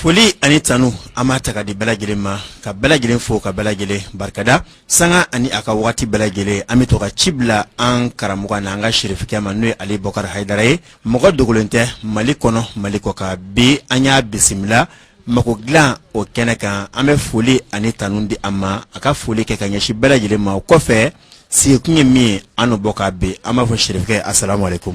Foli ani tanu an b'a ta k'a di bɛɛ lajɛlen ma ka bɛɛ lajɛlen fo ka bɛɛ lajɛlen barikada sanga ani a ka waati bɛɛ lajɛlen an bɛ to ka ci bila an karamɔgɔ na an ka sirifikɛ ma n'o ye Ali Bubakari Hayidara ye mɔgɔ dogolen tɛ mali kɔnɔ mali kɔkan bi an y'a bisimila mago dilan o kɛnɛ kan an bɛ foli ani tanu di a ma a ka foli kɛ ka ɲɛsin bɛɛ lajɛlen ma o kɔfɛ sigikun ye min ye an b'o kan bi an b'a fɔ sirifikɛ a sara ko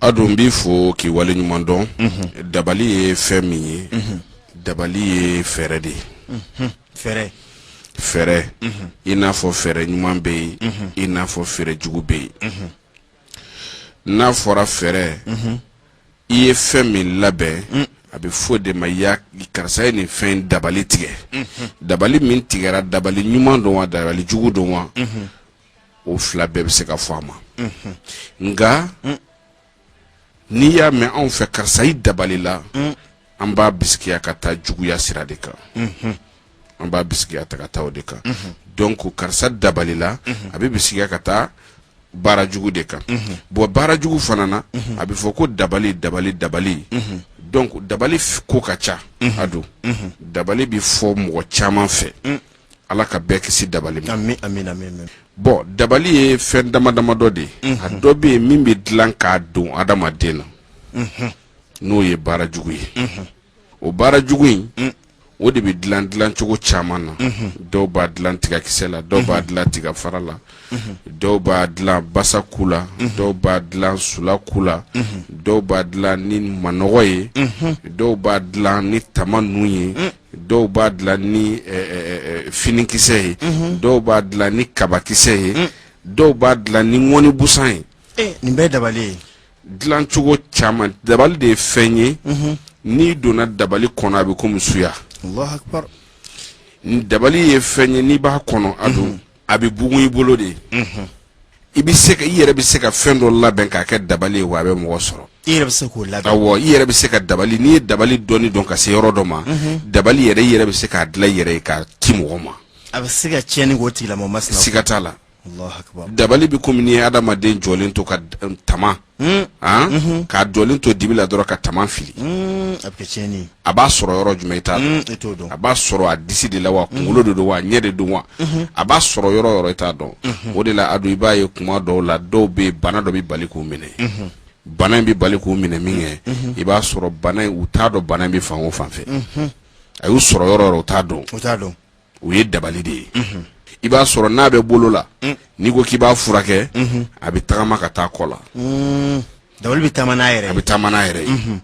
a don n b'i fo k'i wale ɲuman dɔn dabali ye fɛn min ye dabali ye fɛɛrɛ de ye fɛɛrɛ fɛɛrɛ i n'a fɔ fɛɛrɛ ɲuman bɛ yen i n'a fɔ fɛɛrɛ jugu bɛ yen n'a fɔra fɛɛrɛ i ye fɛn min labɛn a bɛ fɔ o de ma ya karisa ye nin fɛn dabali tigɛ dabali min tigɛra dabali ɲuman don wa dabali jugu don wa o fila bɛɛ bɛ se ka fɔ a ma nka n'i y'a mɛn anw fɛ karisa i dabali la an b'a bisigiya ka taa juguya sira de kan an b'a bisigiya ta ka taa o de kan donc karisa dabali la a bɛ bisigiya ka taa baara jugu de kan bon baara jugu fana na a bɛ fɔ ko dabali dabali dabali donc dabali ko ka ca a don dabali bɛ fɔ mɔgɔ caman fɛ Ala ka bɛɛ kisi dabali ma. Ami ami ami ami Bon dabali ye fɛn dama dama dɔ de ye. Unhun. A dɔ bɛ yen min bɛ dilan k'a don adamaden na. Unhun. N'o ye baara jugu ye. Unhun. O baara jugu in. Un. O de bɛ dilan dilan cogo caman na. Unhun. Dɔw b'a dilan tigakisɛ la. Unhun. Dɔw b'a dilan tigafara la. Unhun. Dɔw b'a dilan basa ku la. Unhun. Dɔw b'a dilan sula ku la. Unhun. Dɔw b'a dilan ni manɔgɔ ye. Unhun. Dɔw b'a dilan ni tama nu ye. Un. dɔw b'a dilan ni finikisɛ ye dɔw b'a dilan ni kabakisɛ ye dɔw b'a dilan ni ŋɔni busan ye nin bɛɛ dabali ye dilancogo caman dabali de ye fɛn ye n'i donna dabali kɔnɔ a bɛ komi suya dabali ye fɛn ye n'i b'a kɔnɔ a don a bɛ bugun i bolo de i bɛ se ka i yɛrɛ bɛ se ka fɛn dɔ labɛn k'a kɛ dabali ye wa a bɛ mɔgɔ sɔrɔ i yɛrɛ bɛ se k'o labɛn awɔ i yɛrɛ bɛ se ka dabali n'i ye dabali dɔnni dɔn ka se yɔrɔ dɔ ma dabali yɛrɛ i yɛrɛ bɛ se k'a dilan i yɛrɛ ye k'a ci mɔgɔ ma a bɛ se ka tiɲɛni k'o tigilamɔgɔ masina siga t'a la Alahu akibaru. dabali bɛ komi n'i ye adamaden jɔlen to ka d- tama Hmm. Ah? Mhm. k'a jɔlen to dibi la dɔrɔn ka tama fili hmm, a b'a sɔrɔ yɔrɔ jumɛn i t'a hmm, dɔn a b'a sɔrɔ a disi de la wa kunkolo de don wa ɲɛ de don wa mhm. a b'a sɔrɔ yɔrɔ yɔrɔ i t'a dɔn mhm. o de la a don i b'a ye kuma dɔw la dɔw bɛ yen bana dɔ bɛ bali k'u minɛ bana in bɛ bali k'u minɛ min kɛ i b'a sɔrɔ bana in u t'a dɔn bana in bɛ fan o fan fɛ a y'u sɔrɔ yɔrɔ yɔrɔ u t'a dɔn o ye dabali de ye i b'a sɔrɔ n'a bɛ bolo la mm. n'i ko k'i b'a furakɛ mm-hmm. a bɛ tagama ka taa kɔ la mm. dabali bɛ taama n'a yɛrɛ a bɛ taama n'a yɛrɛ ye mm-hmm.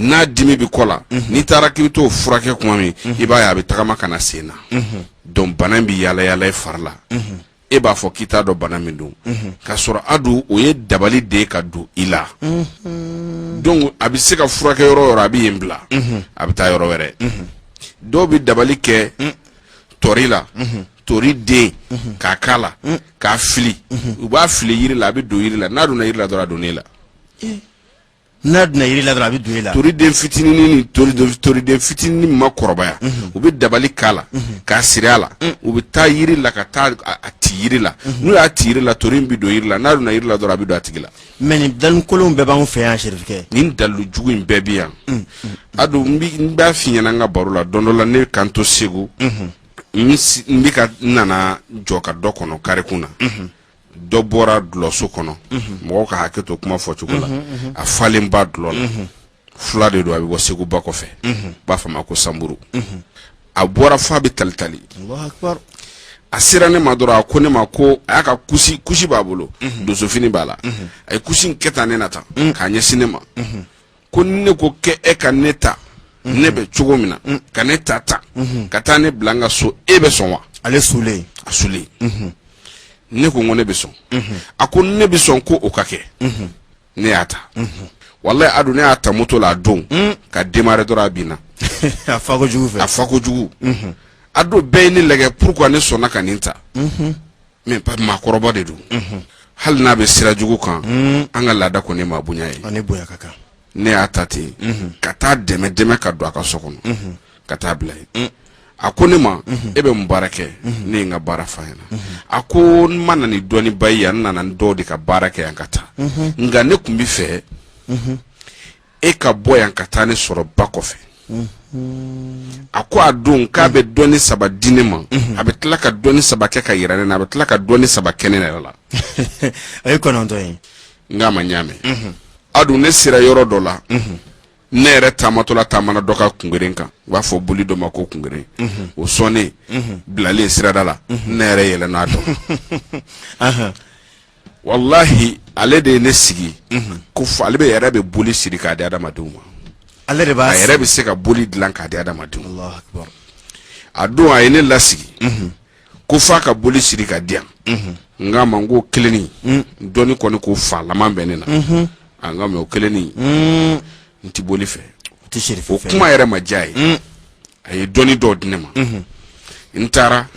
n'a dimi bɛ kɔ la mm-hmm. n'i taara k'i bɛ t'o furakɛ kuma min i b'a ye a bɛ tagama ka na sen na donc bana in bɛ yaala yaala i fari la e b'a fɔ k'i t'a dɔn bana min don k'a sɔrɔ adu o ye dabali de ka don i la donc a bɛ se ka furakɛ yɔrɔ o yɔrɔ a bɛ yen bila a bɛ taa yɔrɔ wɛrɛ dɔw bɛ dabali kɛ tori la tori den k'a k'a la k'a fili u b'a fili yiri la a bɛ don yiri la n'a donna yiri la dɔrɔn a donna e la n'a donna yiri la dɔrɔn a bɛ don e la toriden fitinin ni toriden toriden fitinin ma kɔrɔbaya u bɛ dabali k'a la k'a siri a la u bɛ taa yiri la ka taa a a ti yiri la n'u y'a ti yiri la tori in bɛ don yiri la n'a donna yiri la dɔrɔn a bɛ don a tigi la mais nin dalukolonw bɛɛ b'anw fɛ yan serifukɛ nin dalu jugu in bɛɛ bɛ yan adu n bi- n b'a f'i ɲɛna n ka baro la don dɔ la ne ka n to segu n si- n bɛ ka n nana jɔ ka dɔ kɔnɔ karikun na dɔ bɔra dulɔso kɔnɔ mɔgɔw ka hakɛ to kuma fɔcogo la a falen ba dulɔ la fula de don a bɛ bɔ segu ba kɔfɛ b'a f'a ma ko sanburu a bɔra f'a bɛ talitali a sera ne ma dɔrɔn a ko ne ma ko a y'a ka kusi kusi b'a bolo donsofini b'a la a ye kusi in kɛ tan ne na tan k'a ɲɛsin ne ma ko ne ko k'e ka ne ta mhm. ne bɛ cogo min na mhm. ka ne ta ta mhm. ka taa ne bila n ka so e bɛ sɔn wa ale sulen a sulen ne ko ko ne bɛ sɔn a ko ne bɛ sɔn ko o ka kɛ ne y'a ta walayi adu ne y'a ta moto la a don ka démarrer dɔrɔn a binna a fa kojugu fɛ a fa kojugu adu bɛɛ ye ne lajɛ pourquoi ne sɔnna ka nin ta mais maakɔrɔba de don unhun hali n'a bɛ sira jugu kan mm. an ka laada kɔni maa bonya ye ani bonya ka kan ne y'a ta ten mm-hmm. ka taa dɛmɛ dɛmɛ ka don a ka so kɔnɔ mm-hmm. ka taa bila yen mm. a ko ne ma mm-hmm. e bɛ mun baara kɛ ne ye n ka baara f'a ɲɛna a ko n ma na ni dɔnniba ye yan n nana ni dɔw de ka baara kɛ yan ka taa nka ne tun bɛ fɛ e ka bɔ yan ka taa ne sɔrɔ ba kɔfɛ a ko a don k'a bɛ dɔnni saba di ne ma a bɛ tila ka dɔnni saba kɛ ka yira ne na a bɛ tila ka dɔnni saba kɛ ne yɛrɛ la a ye kɔnɔntɔn ye n k'a ma n y'a mɛn adu ne sera yɔrɔ dɔ la ne yɛrɛ taamatɔla taamana dɔ ka kungeren kan u b'a fɔ boli dɔ ma ko kungeren o sɔnnen bilalen sirada la ne yɛrɛ yɛlɛn'a dɔn walahi ale de ye ne sigi ko ale bɛ yɛrɛ bɛ boli siri k'a di adamadenw ma ale de b'a yɛrɛ bɛ se ka boli dilan k'a di adamadenw a don a ye ne lasigi ko f'a ka boli siri k'a di yan n k'a ma n ko kelenni dɔnni kɔni ko fa laman bɛ ne na nka mais o kelenni n tɛ boli fɛ o kuma yɛrɛ ma diy'a ye a ye dɔnni dɔw di ne ma n taara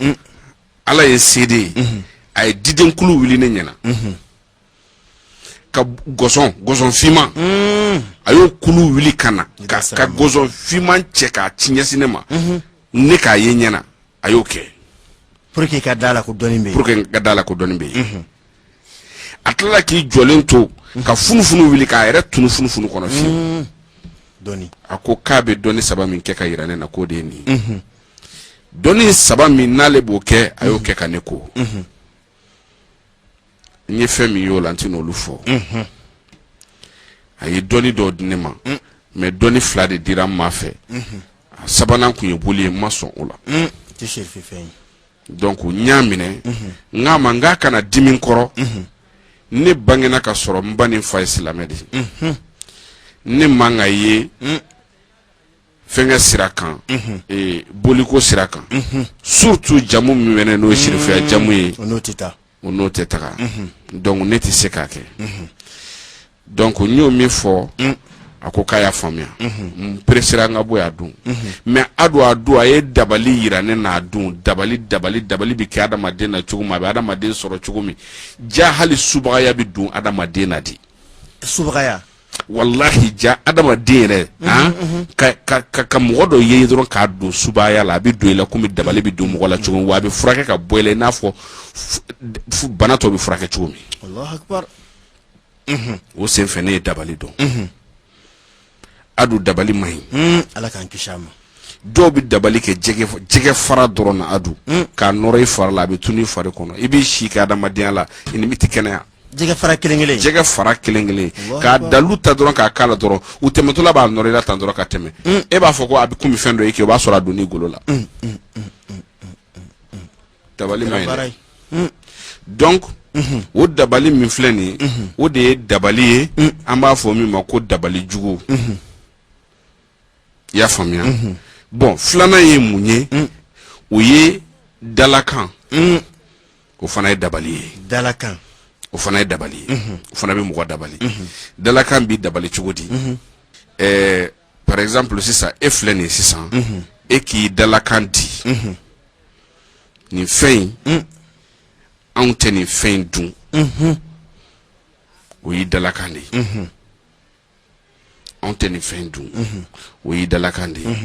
ala ye seede ye a ye didenkulu wuli ne ɲɛ na ka gɔsɔn gɔsɔn finman a y'o kulu wuli ka na ka ka gɔsɔn finman cɛ k'a ci ɲɛsin ne ma ne k'a ye n ɲɛ na a y'o kɛ pour que ka d'a la ko dɔnni bɛ pour que ka d'a la ko dɔnni bɛ yen a tilala k'i jɔlen to ka funufunu wuli k'a yɛrɛ tunu funufunu kɔnɔ fiyewu dɔnni a ko k'a bɛ dɔnni saba min kɛ k'a yira ne na k'o de ye nin ye dɔnni saba min n'ale b'o kɛ a y'o kɛ ka ne ko n ye fɛn min y'o la n tɛ n'olu fɔ a ye dɔnni dɔw di ne ma mais dɔnni fila de dira n ma fɛ a sabanan tun ye boli ye n ma sɔn o la donc n y'a minɛ n k'a ma n k'a kana dimi n kɔrɔ ne bangena ka sɔrɔ n ba ni n fa ye silamɛ de ye ne man ka ye fɛnkɛ sira kan ee boliko sira kan surtout jamu min bɛ ne n'o ye serifuya jamu ye o n'o tɛ taa o n'o tɛ taga donc ne tɛ se k'a kɛ donc n y'o min fɔ a ko k'a y'a faamuya n peresera n ka bɔ yan Adu mais Adu a don a ye dabali yira ne na Adu dabali dabali dabali bɛ kɛ adamaden na cogo min a bɛ adamaden sɔrɔ cogo min ja hali subagaya bɛ don adamaden na de subagaya walahi ja adamaden yɛrɛ han, ka, ka, ka, ka mɔgɔ dɔ ye dɔrɔn k'a don subaya la a bɛ don i la komi dabali bɛ don mɔgɔ la cogo min wa a bɛ furakɛ ka bɔ i la i n'a fɔ f- f- bana tɔ bɛ furakɛ cogo min Allahu akbar. o senfɛ ne ye dabali dɔn Adu dabali man ɲi Mm, Ala k'an kisi a ma. dɔw bɛ dabali kɛ jɛgɛ f- jɛgɛ fara dɔrɔn na Adu k'a nɔrɔ i fari la a bɛ tunu i fari kɔnɔ i b'i si kɛ adamadenya la i ni tɛ kɛnɛya jɛgɛ fara kelen kelen jɛgɛ fara kelen kelen k'a dalu ta dɔrɔn k'a k'a la dɔrɔn u tɛmɛtɔla b'a nɔrɔ i la tan dɔrɔn ka tɛmɛ mm. e b'a fɔ ko a bɛ komi fɛn dɔ ye kɛ o b'a sɔrɔ a donn'i golo la mm, mm, dabali man ɲi dɛ donc mm-hmm. o dabali min filɛ nin ye mm-hmm. o de ye dabali ye an b'a fɔ min ma ko dabali jugu mm-hmm. i y'a faamuya bon filanan ye mun ye o ye dalakan o fana ye dabali ye dalakan o fana ye dabali ye o fana bɛ mɔgɔ dabali dalakan bɛ dabali cogo di ɛɛ par exemple sisan e filɛ nin ye sisan e k'i dalakan di nin fɛn in anw tɛ nin fɛn in dun o y'i dalakan de ye anw tɛ nin fɛn in dun o y'i dalakan de ye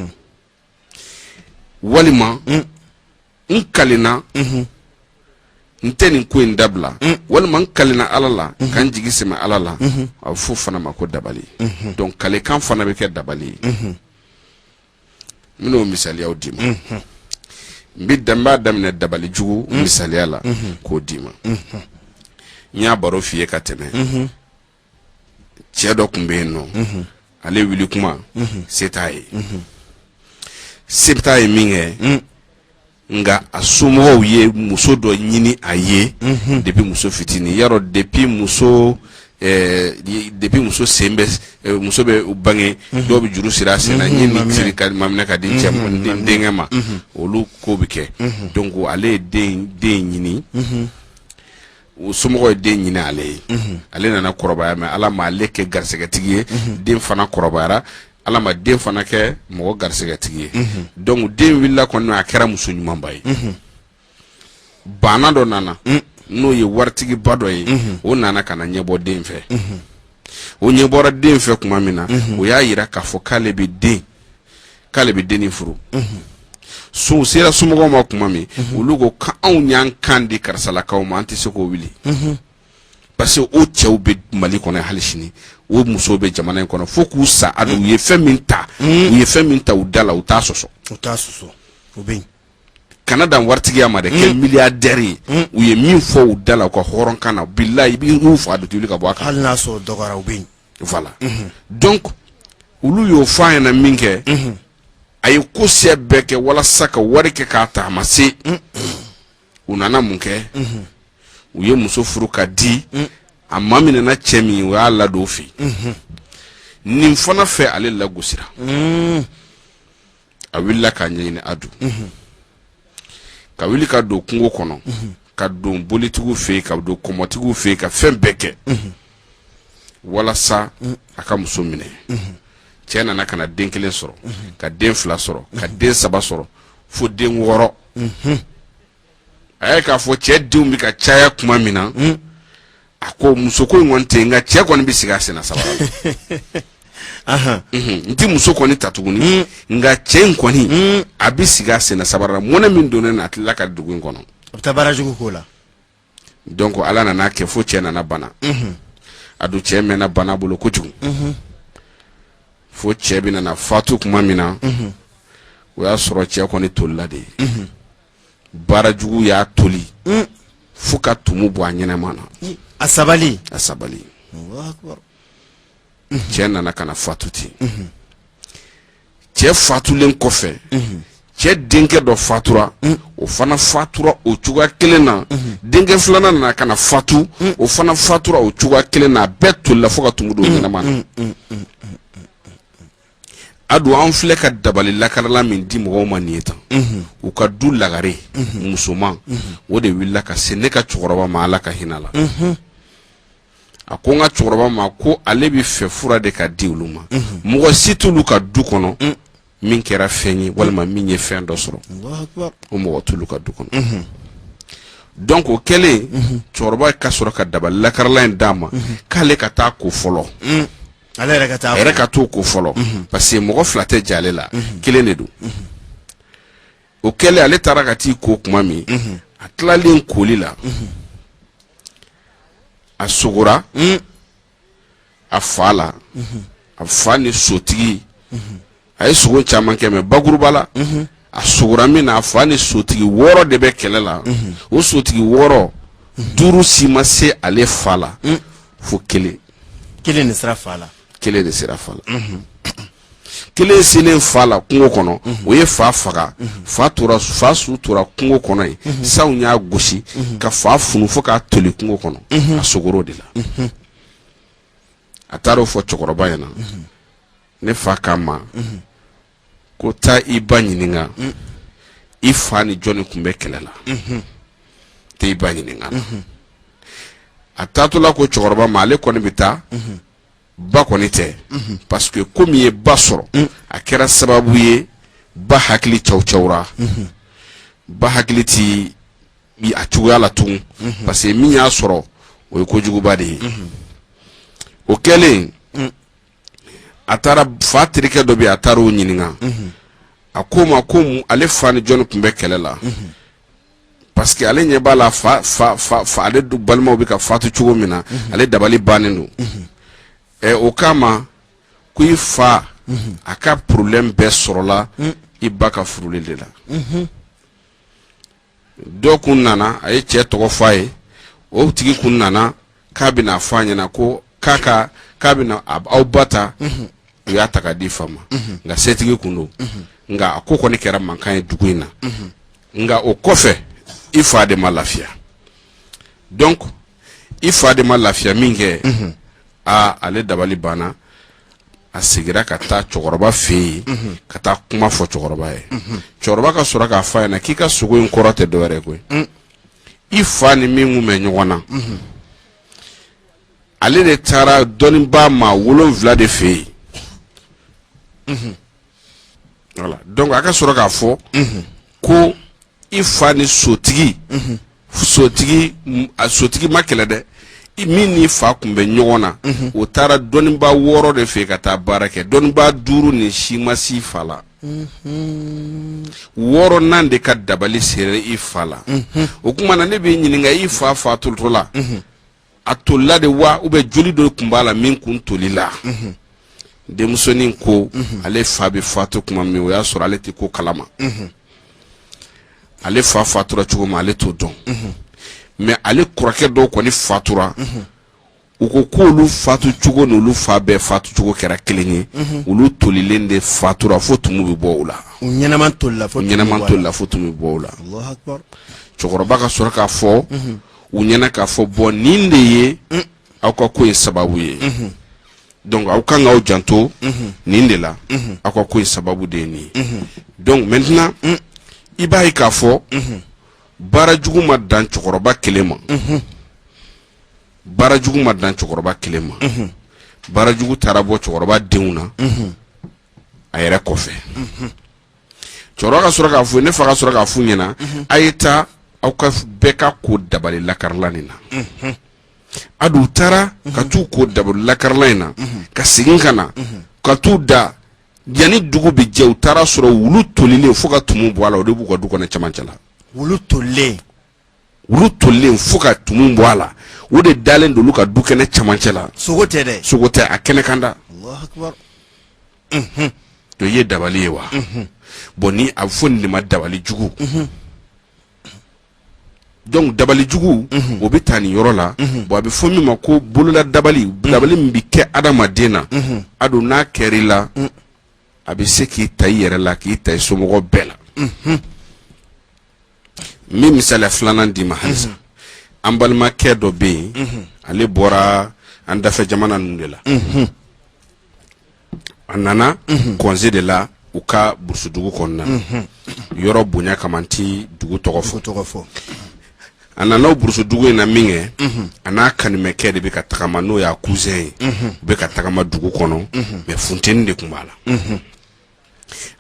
walima n kalenna n tɛ nin ko in dabila walima n kalenna ala la ka n jigi sɛmɛ ala la a bɛ f'o fana ma ko dabali donc kalekan fana bɛ kɛ dabali ye n bɛn'o misaliyaw d'i ma n bɛ dan n b'a daminɛ dabali jugu misaliya la k'o d'i ma n y'a baro f'i ye ka tɛmɛ cɛ dɔ tun bɛ yen nɔ ale wuli kuma se t'a ye se t'a ye min kɛ nka a somɔgɔw ye muso dɔ ɲini a ye depuis muso fitininya rɔ depuis muso depuis muso sen bɛ muso bɛ bange dɔw bɛ juru siri a sen na ɲɛ min siri k'a maminɛ k'a di cɛ denkɛ ma olu ko bɛ kɛ donc ale ye den ɲini o somɔgɔw ye den ɲini ale ye ale nana kɔrɔbaya mais ala ma ale kɛ garisɛgɛtigi ye den fana kɔrɔbayara ala ma den fana kɛ mɔgɔ garisɛgɛtigi ye donc den wulila kɔni a kɛra muso ɲumanba ye baana dɔ nana n'o ye waritigiba dɔ ye o nana ka na ɲɛbɔ den fɛ o ɲɛ bɔra den fɛ tuma min na o y'a jira k'a fɔ k'ale bɛ den k'ale bɛ dennin furu so sera somɔgɔw ma tuma min olu ko ko anw y'an kan di karisalakaw ma an tɛ se k'o wuli parce que o cɛw bɛ mali kɔnɔ hali sini o musow bɛ jamana in kɔnɔ fo k'u sa a u ye fɛn min ta u ye fɛn min ta u da la u t'a sɔsɔ u t'a sɔsɔ o bɛ yen kana dan waritigiya ma dɛ kɛ milliardaire ye u ye min fɔ u da la u ka hɔrɔnkan na bilayi i bɛn'u faa d'u tɛ wuli ka bɔ a kan hali n'a sɔrɔ dɔgɔyara u bɛ yen donc olu y'o fɔ a ɲɛ na min kɛ a ye ko siya bɛɛ kɛ walasa ka wari kɛ k'a ta a ma se u nana mun kɛ u ye muso furu k'a di a maminɛna cɛ min o y'a ladon fɛ nin fana fɛ ale lagosira a wulila k'a ɲɛɲini a dun ka wuli ka don kungo kɔnɔ ka don bolitigiw fɛ yen ka don kɔmɔtigiw fɛ yen ka fɛn bɛɛ kɛ walasa a ka muso minɛ cɛ nana ka na den kelen sɔrɔ ka den fila sɔrɔ ka den saba sɔrɔ fo den wɔɔrɔ a ye k'a fɔ cɛ denw bɛ ka caya tuma min na hmm. a ko muso ko in kɔni tɛ yen nka cɛ kɔni bɛ sigi a senna sabula mhm. n tɛ muso kɔni ta tuguni hmm. nka cɛ in kɔni hmm. a bɛ sigi a senna sabula mɔnɛ min donnen a la a tilala ka dugu in kɔnɔ a bɛ taa baara jugu k'o la donc ala nan'a kɛ fo cɛ nana bana mhm. a dun cɛ mɛnna bana bolo kojugu mhm. fo cɛ bɛ nana fatu tuma min na o y'a sɔrɔ cɛ kɔni tolila de ye baara jugu y'a toli fo ka tumu bɔ a ɲɛnama na a sabali a sabali cɛ nana ka na fatu ten cɛ fatulen kɔfɛ cɛ denkɛ dɔ fatura o fana fatura o cogoya kelen na denkɛ filanan nana ka na fatu o fana fatura o cogoya kelen na a bɛɛ tolila fo ka tumu don ɲɛnama na a dun an filɛ ka dabali lakarala min di mɔgɔw ma nin ye tan u ka du lagare musoman o de wulila ka se ne ka cɛkɔrɔba ma ala ka hinɛ a la a ko n ka cɛkɔrɔba ma ko ale b'a fɛ fura de ka di olu ma mɔgɔ si t'olu ka du kɔnɔ min kɛra fɛn ye walima min ye fɛn dɔ sɔrɔ o mɔgɔ t'olu ka du kɔnɔ donc o kɛlen cɛkɔrɔba ka sɔrɔ ka dabali lakarala in d'a ma k'ale ka taa ko fɔlɔ Ale yɛrɛ ka taa a yɛrɛ ka t'o ko fɔlɔ parce que mɔgɔ fila tɛ jɛ ale la kelen de don o kɛlen ale taara ka t'i ko tuma min a tilalen koli la a sogora a fa la a fa ni sotigi a ye sogo caman kɛ mais bakuruba la a sogora min na a fa ni sotigi wɔɔrɔ de bɛ kɛlɛ la o sotigi wɔɔrɔ duuru si ma se ale fa la fo kelen kelen de sera fa la kelen de sera fa la kelen selen fa la kungo kɔnɔ o ye fa faga fa tora fa su tora kungo kɔnɔ yen sanw y'a gosi ka fa funu fo k'a toli kungo kɔnɔ a sogor'o de la a taara o fɔ cɛkɔrɔba ɲɛna ne fa k'a ma ko taa i ba ɲininka i fa ni jɔnni tun bɛ kɛlɛ la taa i ba ɲininka a taatɔla ko cɛkɔrɔba ma ale kɔni bɛ taa ba kɔni tɛ parce que ko min ye ba sɔrɔ a kɛra sababu ye ba hakili cawcawura ba hakili tɛ a cogoya la tugun parce que min y'a sɔrɔ o ye kojuguba de ye o kɛlen a taara fa terikɛ dɔ bɛ a taara o ɲininka a k'o ma ko ale fa ni jɔnni tun bɛ kɛlɛ la parce que ale ɲɛ b'a la fa ale balimaw bɛ ka fatu cogo min na ale dabali bannen don ɛ o k'a ma ko i fa a ka problème bɛɛ sɔrɔla i ba ka furuli de la dɔ kun nana a ye cɛ tɔgɔ fɔ a ye o tigi kun nana k'a bɛna fɔ a ɲɛna ko k'a ka k'a bɛna aw ba ta u y'a ta ka di fa ma nka setigi kun don nka a ko kɔni kɛra mankan ye dugu in na nka o kɔfɛ i fa de ma lafiya donc i fa de ma lafiya min kɛ aa ale dabali banna a segira ka taa cɛkɔrɔba fɛ yen ka taa kuma fɔ cɛkɔrɔba ye cɛkɔrɔba ka sɔrɔ k'a f'a ɲɛna k'i ka sogo in kɔrɔ tɛ dɔwɛrɛ koyi i fa ni min kun bɛ ɲɔgɔn na ale de taara dɔnnibaa maa wolonwula de fɛ yen voilà donc a ka sɔrɔ k'a fɔ ko i fa ni sotigi sotigi a sotigi ma kɛlɛ dɛ min n'i fa kun bɛ ɲɔgɔn na o taara dɔnnibaa wɔɔrɔ de fɛ ka taa baara kɛ dɔnnibaa duuru nin si ma se i fa la wɔɔrɔnan de ka dabali sera i fa la o kuma na ne b'i ɲininka i fa fatutɔ la a tolila de wa ou bien joli dɔ kun b'a la min kun tolila mhm. denmusonin ko mhm. ale fa bɛ fatu tuma min o y'a sɔrɔ ale tɛ ko kalama mhm. ale fa fatura cogo min ale t'o dɔn mais ale kɔrɔkɛ dɔw kɔni fatura u ko k'olu fatu cogo n'olu fa bɛɛ fatu cogo kɛra kelen ye olu tolilen de fatura fo tumu bɛ bɔ u la u ɲɛnama tolila fo tumu bɛ bɔ u la cɛkɔrɔba ka sɔrɔ k'a fɔ u ɲɛna k'a fɔ bɔn nin de ye mm. aw ka ko in sababu ye mm-hmm. donc aw kan k'aw janto mm-hmm. nin de la mm-hmm. aw ka ko in sababu de ye nin ye donc maintenant mm. i b'a ye k'a fɔ baara jugu ma dan cɛkɔrɔba kelen ma baara jugu ma dan cɛkɔrɔba kelen ma baara jugu taara bɔ cɛkɔrɔba denw na a yɛrɛ kɔfɛ cɛkɔrɔba ka sɔrɔ k'a fɔ ne fa ka sɔrɔ k'a f'u ɲɛna a ye taa aw ka f- bɛɛ ka ko dabali lakarilan in na a don u taara ka t'u ko dabali lakarilan in na ka segin ka na ka t'u da yanni dugu bɛ jɛ u taara sɔrɔ wulu tolilen fo ka tumu bɔ a la o de b'u ka du kɔnɔ cɛmancɛ la wulu tolilen wulu tolen fo ka tumu bɔ a la o de dalen don olu ka du kɛnɛ camancɛ la sogo tɛ dɛ sogo tɛ a kɛnɛ kan da to ye dabali ye wa bɔn ni a bɛ fɔ nin de ma dabali jugu donc dabali jugu o bɛ taa nin yɔrɔ la bɔn a bɛ fɔ min ma ko bolola dabali dabali min bɛ kɛ adamaden na a don n'a kɛr'i la a bɛ se k'i ta i yɛrɛ la k'i ta i somɔgɔw bɛɛ la n bɛ misaliya filanan d'i ma halisa an balimakɛ dɔ bɛ yen ale bɔra an dafɛ jamana ninnu de la a nana congé de la u ka burusudugu kɔnɔna na yɔrɔ bonya kama n ti dugu tɔgɔ fɔ a nana o burusudugu in na min kɛ a n'a kanimɛkɛ de bɛ ka tagama n'o y'a cousin ye u bɛ ka tagama dugu kɔnɔ mais funteni de tun b'a la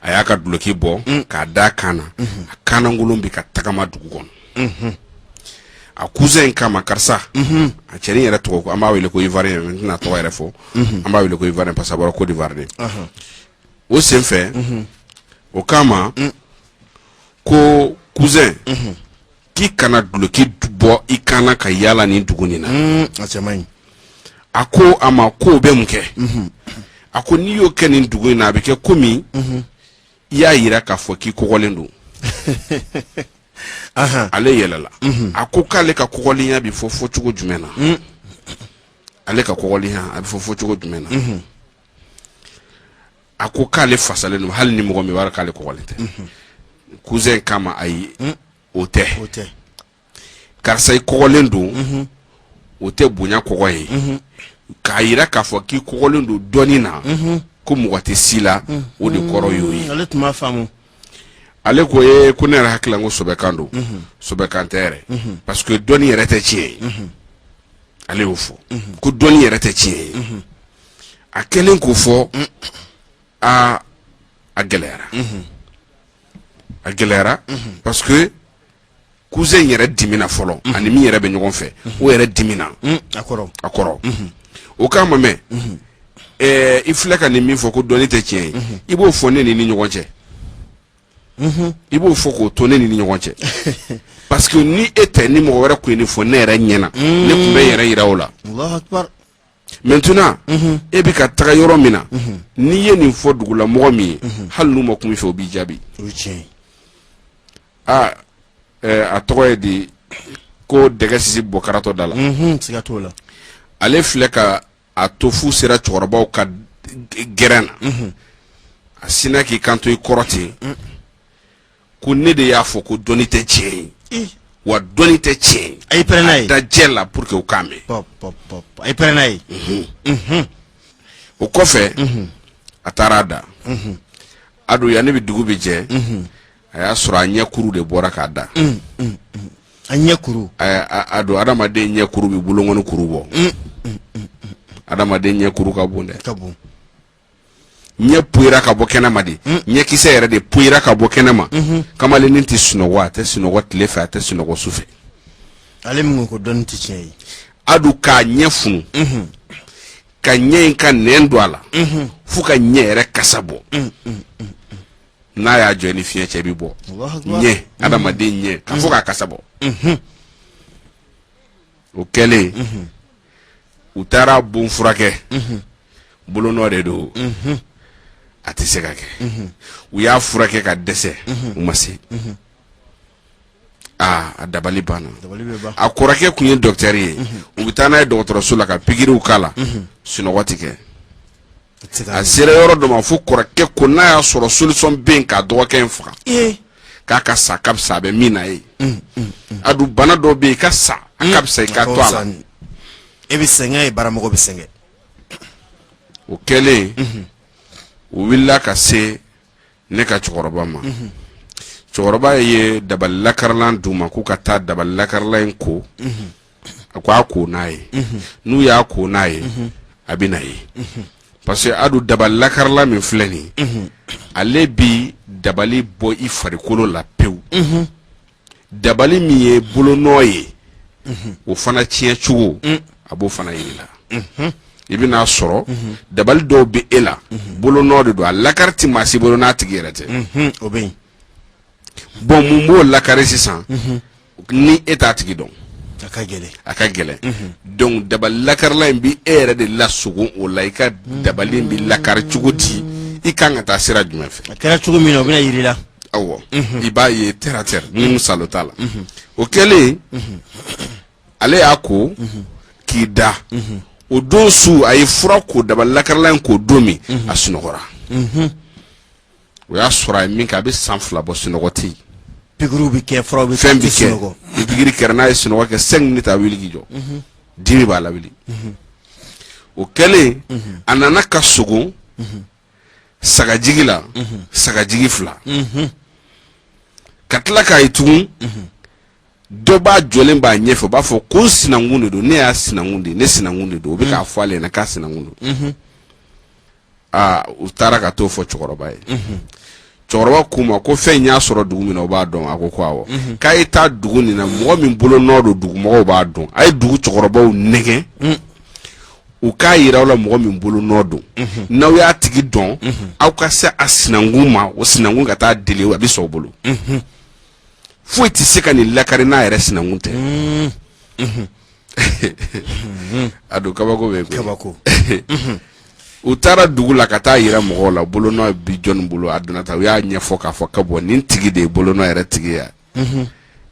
a y'a ka duloki bɔ mm. k'a da kan na mm-hmm. a kanankolon bɛ ka tagama dugu kɔnɔ mm-hmm. a cousin in k'a ma karisa mm-hmm. a cɛnin yɛrɛ tɔgɔ an b'a wele ko ivoirien n tɛna tɔgɔ yɛrɛ fɔ an b'a wele ko ivoirien parce que a bɔra Côte d'Ivoire de uh-huh. o senfɛ o k'a ma mm. ko cousin k'i kana duloki bɔ i kan na ka yaala nin dugu nin na mm, a ko a ma ko o bɛ mun kɛ mhm. a ko n'i y'o kɛ nin dugu in na a bɛ kɛ komi mhm. i y'a yira k'a fɔ k'i kɔgɔlen don ale yɛlɛla mhm. a ko k'ale ka kɔgɔlenya bɛ fɔ fɔ cogo jumɛn na mm. ale ka kɔgɔlenya a bɛ fɔ fɔ cogo jumɛn na a ko k'ale fasalen don hali ni mɔgɔ min b'a dɔn k'ale kɔgɔlen tɛ cousin k'a ma ayi hmm? o tɛ karisa i kɔgɔlen don mhm. o tɛ bonya kɔgɔ ye mhm. k'a yira k'a fɔ k'i kɔgɔlen don dɔnni na mhm. ko mɔgɔ tɛ se i la o de kɔrɔ y'o ye ale tun b'a faamu ale ko ye ko ne yɛrɛ hakili la ko sɛbɛkan don sɛbɛkan tɛ yɛrɛ parce que dɔnni yɛrɛ tɛ tiɲɛ ye ale y'o fɔ ko dɔnni yɛrɛ tɛ tiɲɛ ye a kɛlen k'o fɔ aa a gɛlɛyara a gɛlɛyara parce que cousin yɛrɛ dimina fɔlɔ a ni min yɛrɛ bɛ ɲɔgɔn fɛ o yɛrɛ dimina a kɔrɔ o k'a ma mais i filɛ ka nin min fɔ ko dɔnni tɛ tiɲɛ ye i b'o fɔ ne n'i ni ɲɔgɔn cɛ i b'o fɔ k'o to ne n'i ni ɲɔgɔn cɛ parce que ni e tɛ ni mɔgɔ wɛrɛ kun ye nin fɔ ne yɛrɛ ɲɛna ne kun bɛ yɛrɛ yira o la maintenant e bɛ ka taga yɔrɔ min na n'i ye nin fɔ dugulamɔgɔ min ye hali n'u ma kuma i fɛ o b'i jaabi aa a tɔgɔ ye di ko dɛgɛ sisi bɔ karatɔ da la ale filɛ ka a to f'u sera cɛkɔrɔbaw ka gɛrɛn na a sinna k'i kanto i kɔrɔ ten ko ne de y'a fɔ ko dɔnni tɛ tiɲɛ ye wa dɔnni tɛ tiɲɛ ye a y'i pɛrɛn n'a ye da jɛ la pour que u k'a mɛn pɔp pɔp pɔp a y'i pɛrɛn n'a ye Mhm. o kɔfɛ a taara a da a don yanni bi dugu bɛ jɛ a y'a sɔrɔ a ɲɛ kuru de bɔra k'a da a ɲɛ kuru a a- a don adamaden ɲɛ kuru bɛ bolonkɔni kuru bɔ adamaden ɲɛ kuru ka bon dɛ ka bon ɲɛ poyira ka bɔ kɛnɛma de mm. ɲɛkisɛ yɛrɛ de poyira ka bɔ kɛnɛma mm-hmm. kamalennin tɛ sunɔgɔ a tɛ sunɔgɔ tile fɛ a tɛ sunɔgɔ su fɛ ale min ko dɔnni tɛ tiɲɛ ye a don k'a ɲɛ funu mm-hmm. ka ɲɛ in ka nɛn don a la mm-hmm. fo ka ɲɛ yɛrɛ kasa bɔ mm, mm, mm, n'a y'a jɔ ni fiɲɛ cɛ bi bɔ ɲɛ adamaden ɲɛ ka fo k'a kasa bɔ o kɛlen u taara bon furakɛ bolonɔ de don a tɛ se ka kɛ u y'a furakɛ ka dɛsɛ u ma se aa a dabali banna a kɔrɔkɛ tun ye dɔkitɛri ye u bɛ taa n'a ye dɔgɔtɔrɔso la ka pigiriw k'a la sunɔgɔ tɛ kɛ a sera yɔrɔ dɔ ma fo kɔrɔkɛ ko n'a y'a sɔrɔ solisɔn bɛ yen k'a dɔgɔkɛ in faga k'a ka sa ka fisa a bɛ min na ye mm, mm, mm. a dun bana dɔ bɛ yen i ka sa a ka fisa i ka to a la e bɛ sɛgɛn e baramɔgɔ bɛ sɛgɛn o kɛlen mm-hmm. u wulila ka se ne ka cɛkɔrɔba ma cɛkɔrɔba ye dabali lakarilan d'u ma k'u ka taa dabali lakarilan in ko a ko a ko n'a ye n'u y'a ko n'a ye a bɛn'a ye parce que a dun dabali lakarilan min filɛ nin ale bi dabali bɔ i farikolo la pewu dabali min ye bolonɔ ye o fana tiɲɛ cogo mm. a b'o fana yir'i la mm-hmm. i bɛn'a sɔrɔ mm-hmm. dabali dɔw bɛ e la mm-hmm. bolonɔ de don a lakari tɛ maa si bolo n'a tigi yɛrɛ tɛ o bɛ yen bon mun b'o lakari sisan ni e t'a tigi dɔn a ka gɛlɛn a ka gɛlɛn donc dabali lakarila in bɛ e yɛrɛ de lasogo o la i ka dabali in bɛ lakari cogo di i kan ka taa sira jumɛn fɛ a kɛra cogo min na o bɛna yir'i la awɔ i b'a ye terre à terre ni sa t'a la o kɛlen ale y'a ko k'i da o don su a ye fura ko dabali lakarilan in ko don min a sunɔgɔra o y'a sɔrɔ a ye min kɛ a bɛ san fila bɔ sunɔgɔ tɛ yen pigiriw bɛ kɛ furaw bɛ fɛn bɛ kɛ ni pigiri kɛra n'a ye sunɔgɔ kɛ cinq minutes a wuli k'i jɔ dimi b'a la o kɛlen a nana ka sogo sagajigi la sagajigi fila ka tila k'a ye tugun dɔ b'a jɔlen b'a ɲɛfɛ o b'a fɔ ko n sinankun de don ne y'a sinankun de ye ne sinankun de don o bɛ k'a fɔ ale ɲɛna k'a sinankun don aa u taara ka t'o fɔ cɛkɔrɔba ye cɛkɔrɔba k'u ma ko fɛn y'a sɔrɔ dugu min na o b'a dɔn a ko ko awɔ mhm. k'a ye taa dugu nin na mɔgɔ min bolo nɔ don dugumɔgɔw b'a dɔn a ye dugu cɛkɔrɔbaw nɛgɛn mhm. u k'a yira aw la mɔgɔ min bolo nɔ don mhm. n'aw y'a tigi dɔn aw ka se a sinankun ma o sinankun ka t'a deli a bɛ sɔn o bolo foyi tɛ se ka nin lakari n'a yɛrɛ sinankun tɛ a don kabako bɛ kabako u taara dugu la ka taa yira mɔgɔw la bolonɔ bi jɔnni bolo a donna ta u y'a ɲɛfɔ k'a fɔ ka bɔ ni tigi de ye bolonɔ yɛrɛ tigi ye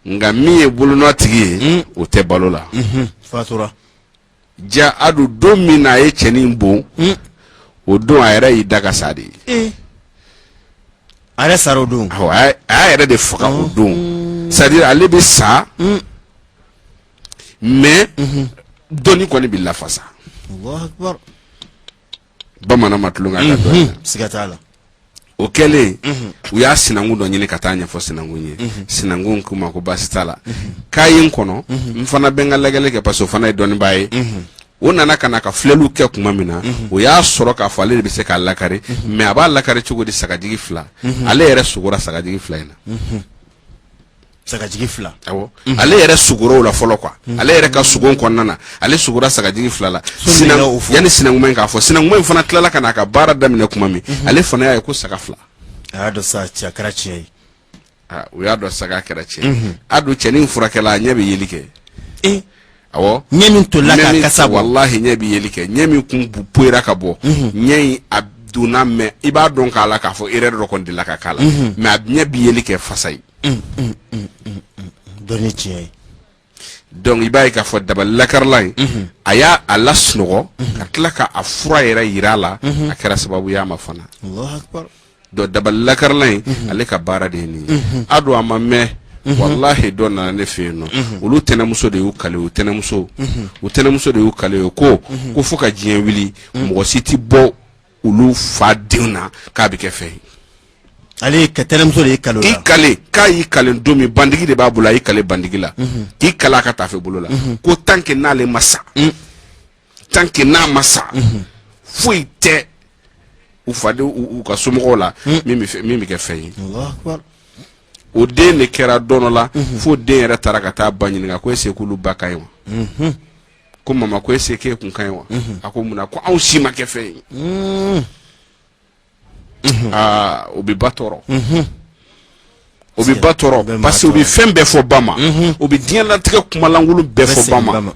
nka min ye bolonɔ tigi ye hmm. o tɛ balo la ja a don don min na a ye cɛnin bon hmm. o don a yɛrɛ y'i da ka sa de ye eh. a yɛrɛ sara o don a y'a yɛrɛ de faga o don hmm. c'est-à-dire ale bɛ sa mais mhm. dɔnni kɔni bɛ lafasa bamanan ma tulon k'a ka mhm. siga t'a la o kɛlen mhm. u y'a sinankun dɔ ɲini ka taa ɲɛfɔ sinankun ye sinankun k'u ma ko baasi t'a la k'a ye n kɔnɔ n fana bɛ n ka lajɛli kɛ parce que o fana ye dɔnnibaa ye o nana ka na ka filɛliw kɛ tuma min na mhm. o y'a sɔrɔ k'a fɔ ale de bɛ se k'a lakari mhm. mais a b'a lakari cogo di sagajigi fila mhm. ale yɛrɛ sugora sagajigi fila in na sagajigi fila awɔ mhm. ale yɛrɛ sugora o la fɔlɔ quoi mhm. ale yɛrɛ ka sugo kɔnɔna na ale sugora sagajigi fila la yanni sinankuma in k'a fɔ sinankuma in fana tilala ka na a ka baara daminɛ kuma min mhm. ale fana y'a ye ko saga fila a y'a dɔn sa a kɛra tiɲɛ ye u y'a dɔn sa k'a kɛra tiɲɛ a don cɛnin furakɛla a ɲɛ bɛ yeli kɛ awɔ ɲɛ min tolila k'a kasa bɔ walahi ɲɛ bɛ yeli kɛ ɲɛ min kun poyira ka bɔ mhm. ɲɛ in a donna mais i b'a dɔn k'a la k'a fɔ erreur dɔ kɔni delila ka k'a la mhm. mais a ɲɛ bɛ yeli kɛ fasayi mm, mm, mm, dɔnni tiɲɛ ye donc i b'a ye k'a fɔ dabali lakarila in mhm. a y'a lasunɔgɔ ka tila ka a fura yɛrɛ yira a la a kɛra sababu y'a ma fana donc dabali lakarila in ale ka baara de ye nin ye a don a ma mɛn walahi dɔ nana ne fɛ yen nɔ olu tɛnɛmuso de y'u kale u tɛnɛmuso u tɛnɛmuso de y'u kale o ko ko fo ka diɲɛ wuli mɔgɔ si tɛ bɔ olu fa denw na k'a bɛ kɛ fɛn ye ale ka tɛnɛmuso de y'i kale o la i kale k'a y'i kale don min bandigi de b'a bolo a y'i kale bandigi la k'i kale a ka taafe bolo la ko tant que n'ale ma sa tant que n'a ma sa foyi tɛ u faden u u ka somɔgɔw la min bɛ fɛ- min bɛ kɛ fɛn ye o den de kɛra don dɔ la fo den yɛrɛ taara ka taa ba ɲininka ko est-ce que olu ba ka ɲi wa ko mama ko est-ce que e kun ka ɲi wa a ko mun na ko anw si ma kɛ fɛn ye aa o bɛ ba tɔɔrɔ o bɛ ba tɔɔrɔ bɛ maa parce que o bɛ tɔɔrɔ. fɛn bɛɛ fɔ ba ma o bɛ diɲɛlatigɛ kumalankolon bɛɛ fɔ ba ma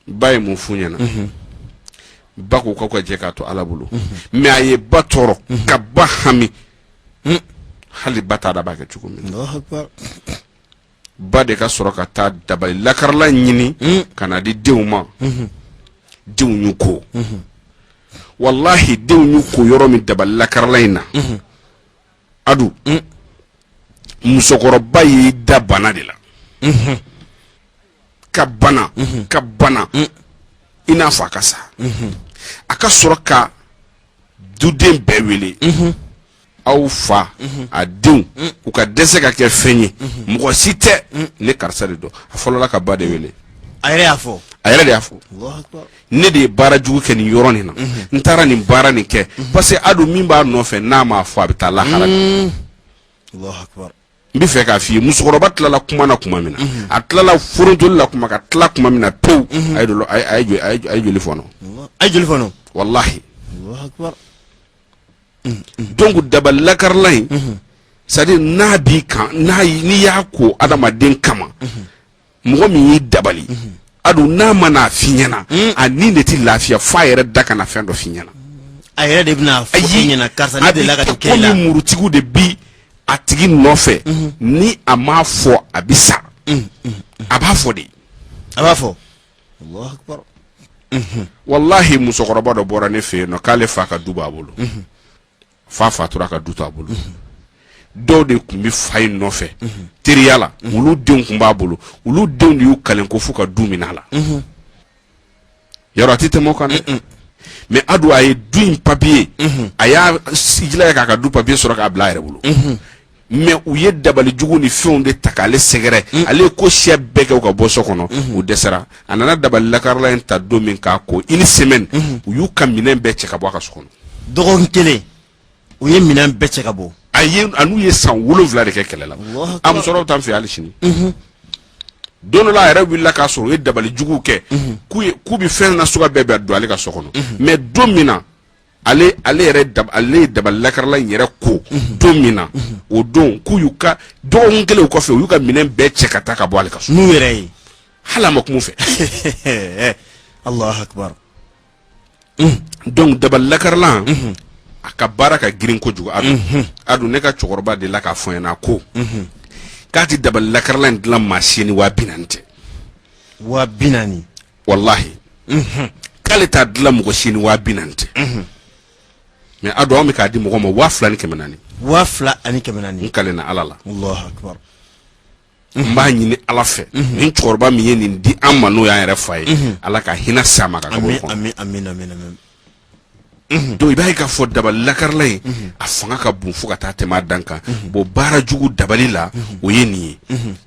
ba ye mun f'u ɲɛna ba ko k'aw ka jɛ k'a to ala bolo mais a ye ba tɔɔrɔ ka ba hami hali ba t'a dɔn a b'a kɛ cogo min na Allahu akbar. ba de ka sɔrɔ ka taa dabali lakarilan ɲini ka n'a di denw ma denw y'u ko walahi denw y'u ko yɔrɔ min dabali lakarilan in na adu musokɔrɔba y'i da bana de la ka bana ka bana i n'a fɔ a ka sa a ka sɔrɔ ka duden bɛɛ wele aw fa a denw u ka dɛsɛ ka kɛ fɛn ye mɔgɔ si tɛ ne karisa de don a fɔlɔla ka ba de wele a yɛrɛ y'a fɔ a yɛrɛ de y'a fɔ ne de ye baara jugu kɛ nin yɔrɔ nin na n taara nin baara nin kɛ parce que a don min b'a nɔfɛ n'a m'a fɔ a bɛ taa lahara n bɛ fɛ k'a f'i ye musokɔrɔba tilala kuma na kuma min na a tilala forontoli la kuma ka tila kuma min na pewu a ye dolo- a ye- a ye jo- a ye jo- a ye joli fɔnɔ a ye joli fɔnɔ walahi donc dabali lakarilan in c'est-à-dire n'a b'i kan n'i y'a ko adamaden kama mɔgɔ min y'i dabali a don n'a ma n'a f'i ɲɛna a ni de tɛ lafiya fo a yɛrɛ da ka na fɛn dɔ f'i ɲɛna a yɛrɛ de bɛna fɔ i ɲɛna karisa ne delila ka nin kɛ i la komi murutigiw de bi a tigi nɔfɛ ni a m'a fɔ a bɛ sa a b'a fɔ de a b'a fɔ walahi musokɔrɔba dɔ bɔra ne fɛ yen nɔ k'ale fa ka du b'a bolo fa fatura ka du to a bolo dɔw de tun bɛ fa in nɔfɛ teriya la olu denw tun b'a bolo olu denw de y'u kalen ko fo ka du minɛ a la yɛrɛ a tɛ tɛmɛ o kan dɛ mais a don a ye du in papiye a y'a jilaja k'a ka du papiye sɔrɔ k'a bila a yɛrɛ bolo mais u ye dabalijugu ni fɛnw de ta k'ale sɛgɛrɛ mm. ale ye ko siya bɛɛ kɛ u ka bɔ so kɔnɔ mm-hmm. u dɛsɛra a nana dabali lakarilan in ta don min k'a ko une semaine mm-hmm. u y'u ka minɛn bɛɛ cɛ ka bɔ a ka so kɔnɔ dɔgɔkun kelen u ye minɛn bɛɛ cɛ ka bɔ a ye a n'u ye san wolonwula de kɛ kɛlɛ la a musokɔrɔba t'an fɛ hali sini mm-hmm. don dɔ la a yɛrɛ wulila k'a sɔrɔ u ye dabalijuguw kɛ k'u bɛ fɛn nasuguya bɛɛ bɛɛ don ale ka so kɔnɔ mais don min na ale ale yɛrɛ dab ale ye dabali lakarilan in yɛrɛ ko unhun don min na unhun o don k'u y'u ka dɔgɔkun kelen o kɔfɛ u y'u ka minɛn bɛɛ cɛ ka taa ka bɔ ale ka so n'u yɛrɛ ye hali a ma kuma u fɛ Allahu akbar donc dabali lakarilan unhun a ka baara ka girin kojugu a don unhun a don ne ka cɛkɔrɔba delila k'a fɔ n ɲɛna ko unhun k'a tɛ dabali lakarilan in dilan maa si ye ni waa bi naani tɛ waa bi naani walahi k'ale t'a dilan mɔgɔ si ni waa bi naani tɛ mais a don an bɛ k'a di mɔgɔ ma waa fila ni kɛmɛ naani waa fila ani kɛmɛ naani n kalenna ala la n b'a ɲini ala fɛ ni cɛkɔrɔba min ye nin di an ma n'o y'an yɛrɛ fa ye ala ka hinɛ s'a ma ka kɔnɔ donc i b'a ye k'a fɔ dabali lakarila in a fanga ka bon fo ka taa tɛmɛ a dan kan bon baara jugu dabali la o ye nin ye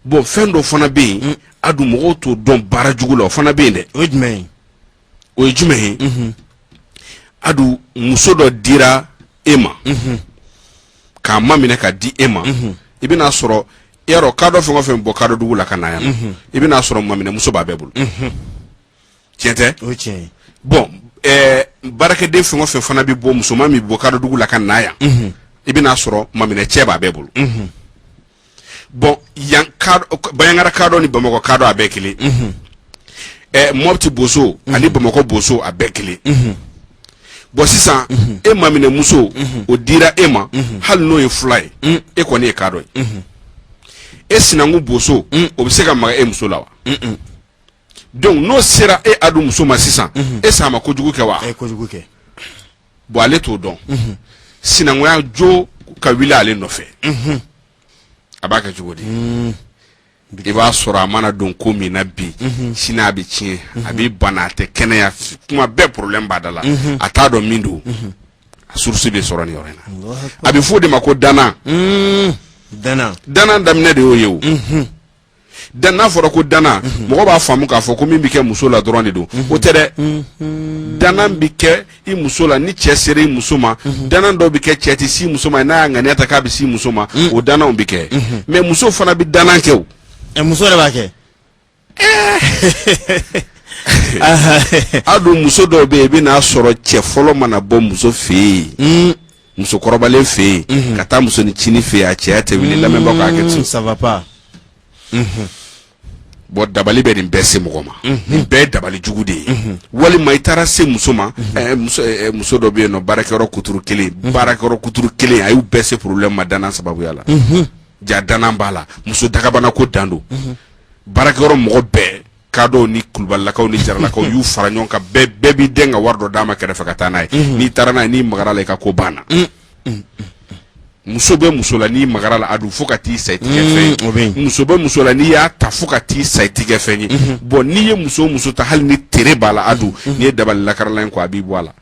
bon fɛn dɔ fana bɛ yen adu mɔgɔw t'o dɔn baara jugu la o fana bɛ yen dɛ o ye jumɛn ye o ye jumɛn ye adu muso dɔ dira e ma k'a maminɛ ka di e ma i bɛn'a sɔrɔ i y'a dɔn kadɔ fɛn o fɛn bɔ kadɔ dugu la ka na yan nɔ i bɛn'a sɔrɔ maminɛmuso b'a bɛɛ bolo tiɲɛ tɛ o ye tiɲɛ ye bɔn ɛɛ baarakɛden fɛn o fɛn fana bɛ bɔ musoman min bɔ kadɔdugu la ka na yan i bɛn'a sɔrɔ maminɛ cɛ b'a bɛɛ bolo bɔn yan kadɔ banjagara kadɔ ni bamakɔ kadɔ a bɛɛ kelen ɛɛ mɔpti boso ani bamakɔ boso a bɛɛ kelen bɔn sisan e maminɛ muso o dira e ma hali n'o ye fila ye e kɔni ye kadɔ ye e sinankun boso o bɛ se ka maga e muso la wa donc n'o sera e adu muso ma sisan est-ce a ma kojugu kɛ wa a ye kojugu kɛ bon ale t'o dɔn sinankunya jo ka wuli ale nɔfɛ a b'a kɛ cogo di i b'a sɔrɔ a mana don ko min na bi sini a bɛ tiɲɛ a bɛ bana a tɛ kɛnɛya kuma bɛɛ problème b'a da la a t'a dɔn min don a source bɛ sɔrɔ nin yɔrɔ in na a bɛ fɔ o de ma ko danna danna daminɛ de y'o ye o dan n'a fɔra ko danna mhm. mɔgɔ b'a faamu k'a fɔ ko min bɛ kɛ muso la dɔrɔn de don mhm. o tɛ dɛ mhm. danna bɛ kɛ i muso la ni cɛ sera i muso ma danna dɔw bɛ kɛ cɛ tɛ se muso ma n'a y'a ŋaniya ta k'a bɛ se muso ma o dannaw bɛ kɛ mais muso fana bɛ danna kɛ o. Eh, muso yɛrɛ b'a kɛ. Eh. adu muso dɔw bɛ yen i bɛn'a sɔrɔ cɛ fɔlɔ mana bɔ muso fɛ yen. musokɔrɔbalen fɛ yen mhm. ka taa musonincinin fɛ yen a cɛya tɛ wuli lamɛnbagaw k'a kɛ ten ça va pas mhm. bɔn dabali bɛ nin bɛɛ se mɔgɔ ma mhm. nin bɛɛ ye dabali jugu de ye walima i taara se muso ma eh, eh, muso dɔ bɛ yen nɔ baarakɛyɔrɔ kuturu kelen baarakɛyɔrɔ kuturu kelen a y'u bɛɛ se problème ma danna sababuya la ja danna b'a la muso dagabana ko dan don baarakɛyɔrɔ mɔgɔ bɛɛ kadɔw ni kulubalilakaw ni jaralakaw y'u fara ɲɔgɔn kan bɛɛ bɛɛ b'i den ka wari dɔ d'a ma kɛrɛfɛ ka taa n'a ye n'i taara n'a ye n'i magara la i ka ko banna muso bɛ muso la n'i magara la adu fo ka t'i sa i tigɛ fɛn ye. o bɛ yen. muso bɛ muso la n'i y'a ta fo ka t'i sa i tɛ kɛ fɛn ye bɔn n'i ye muso o muso ta hali ni tere b'a la adu n'i ye dabali lakarala in ko a b'i bɔ a la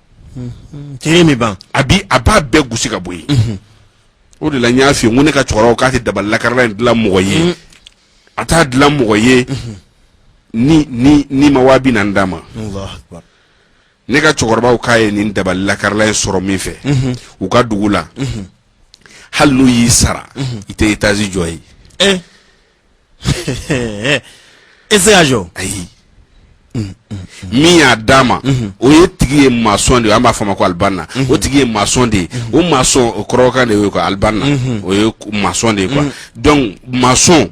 tere min b'a la bi a b'a bɛɛ gosi ka bɔ yen o de la n y'a f'i ye n ko ne ka cɛkɔrɔbaw k'a tɛ dabali lakarala in dilan mɔgɔ ye a t'a dilan mɔgɔ ye n'i ma waa binaani d'a ma ne ka cɛkɔrɔbaw k'a ye nin dabali lakarila in sɔrɔ min fɛ u ka dugu la hali n'u y'i sara i tɛ étage jɔ ye e se jɔ ayi min y'a d'a ma o ye tigi ye maçon de ye an b'a fɔ ma ko alibanna o tigi ye maçon de ye o maçon o kɔrɔbɔrɔkan de ye ko alibanna o ye maçon de ye quoi donc maçon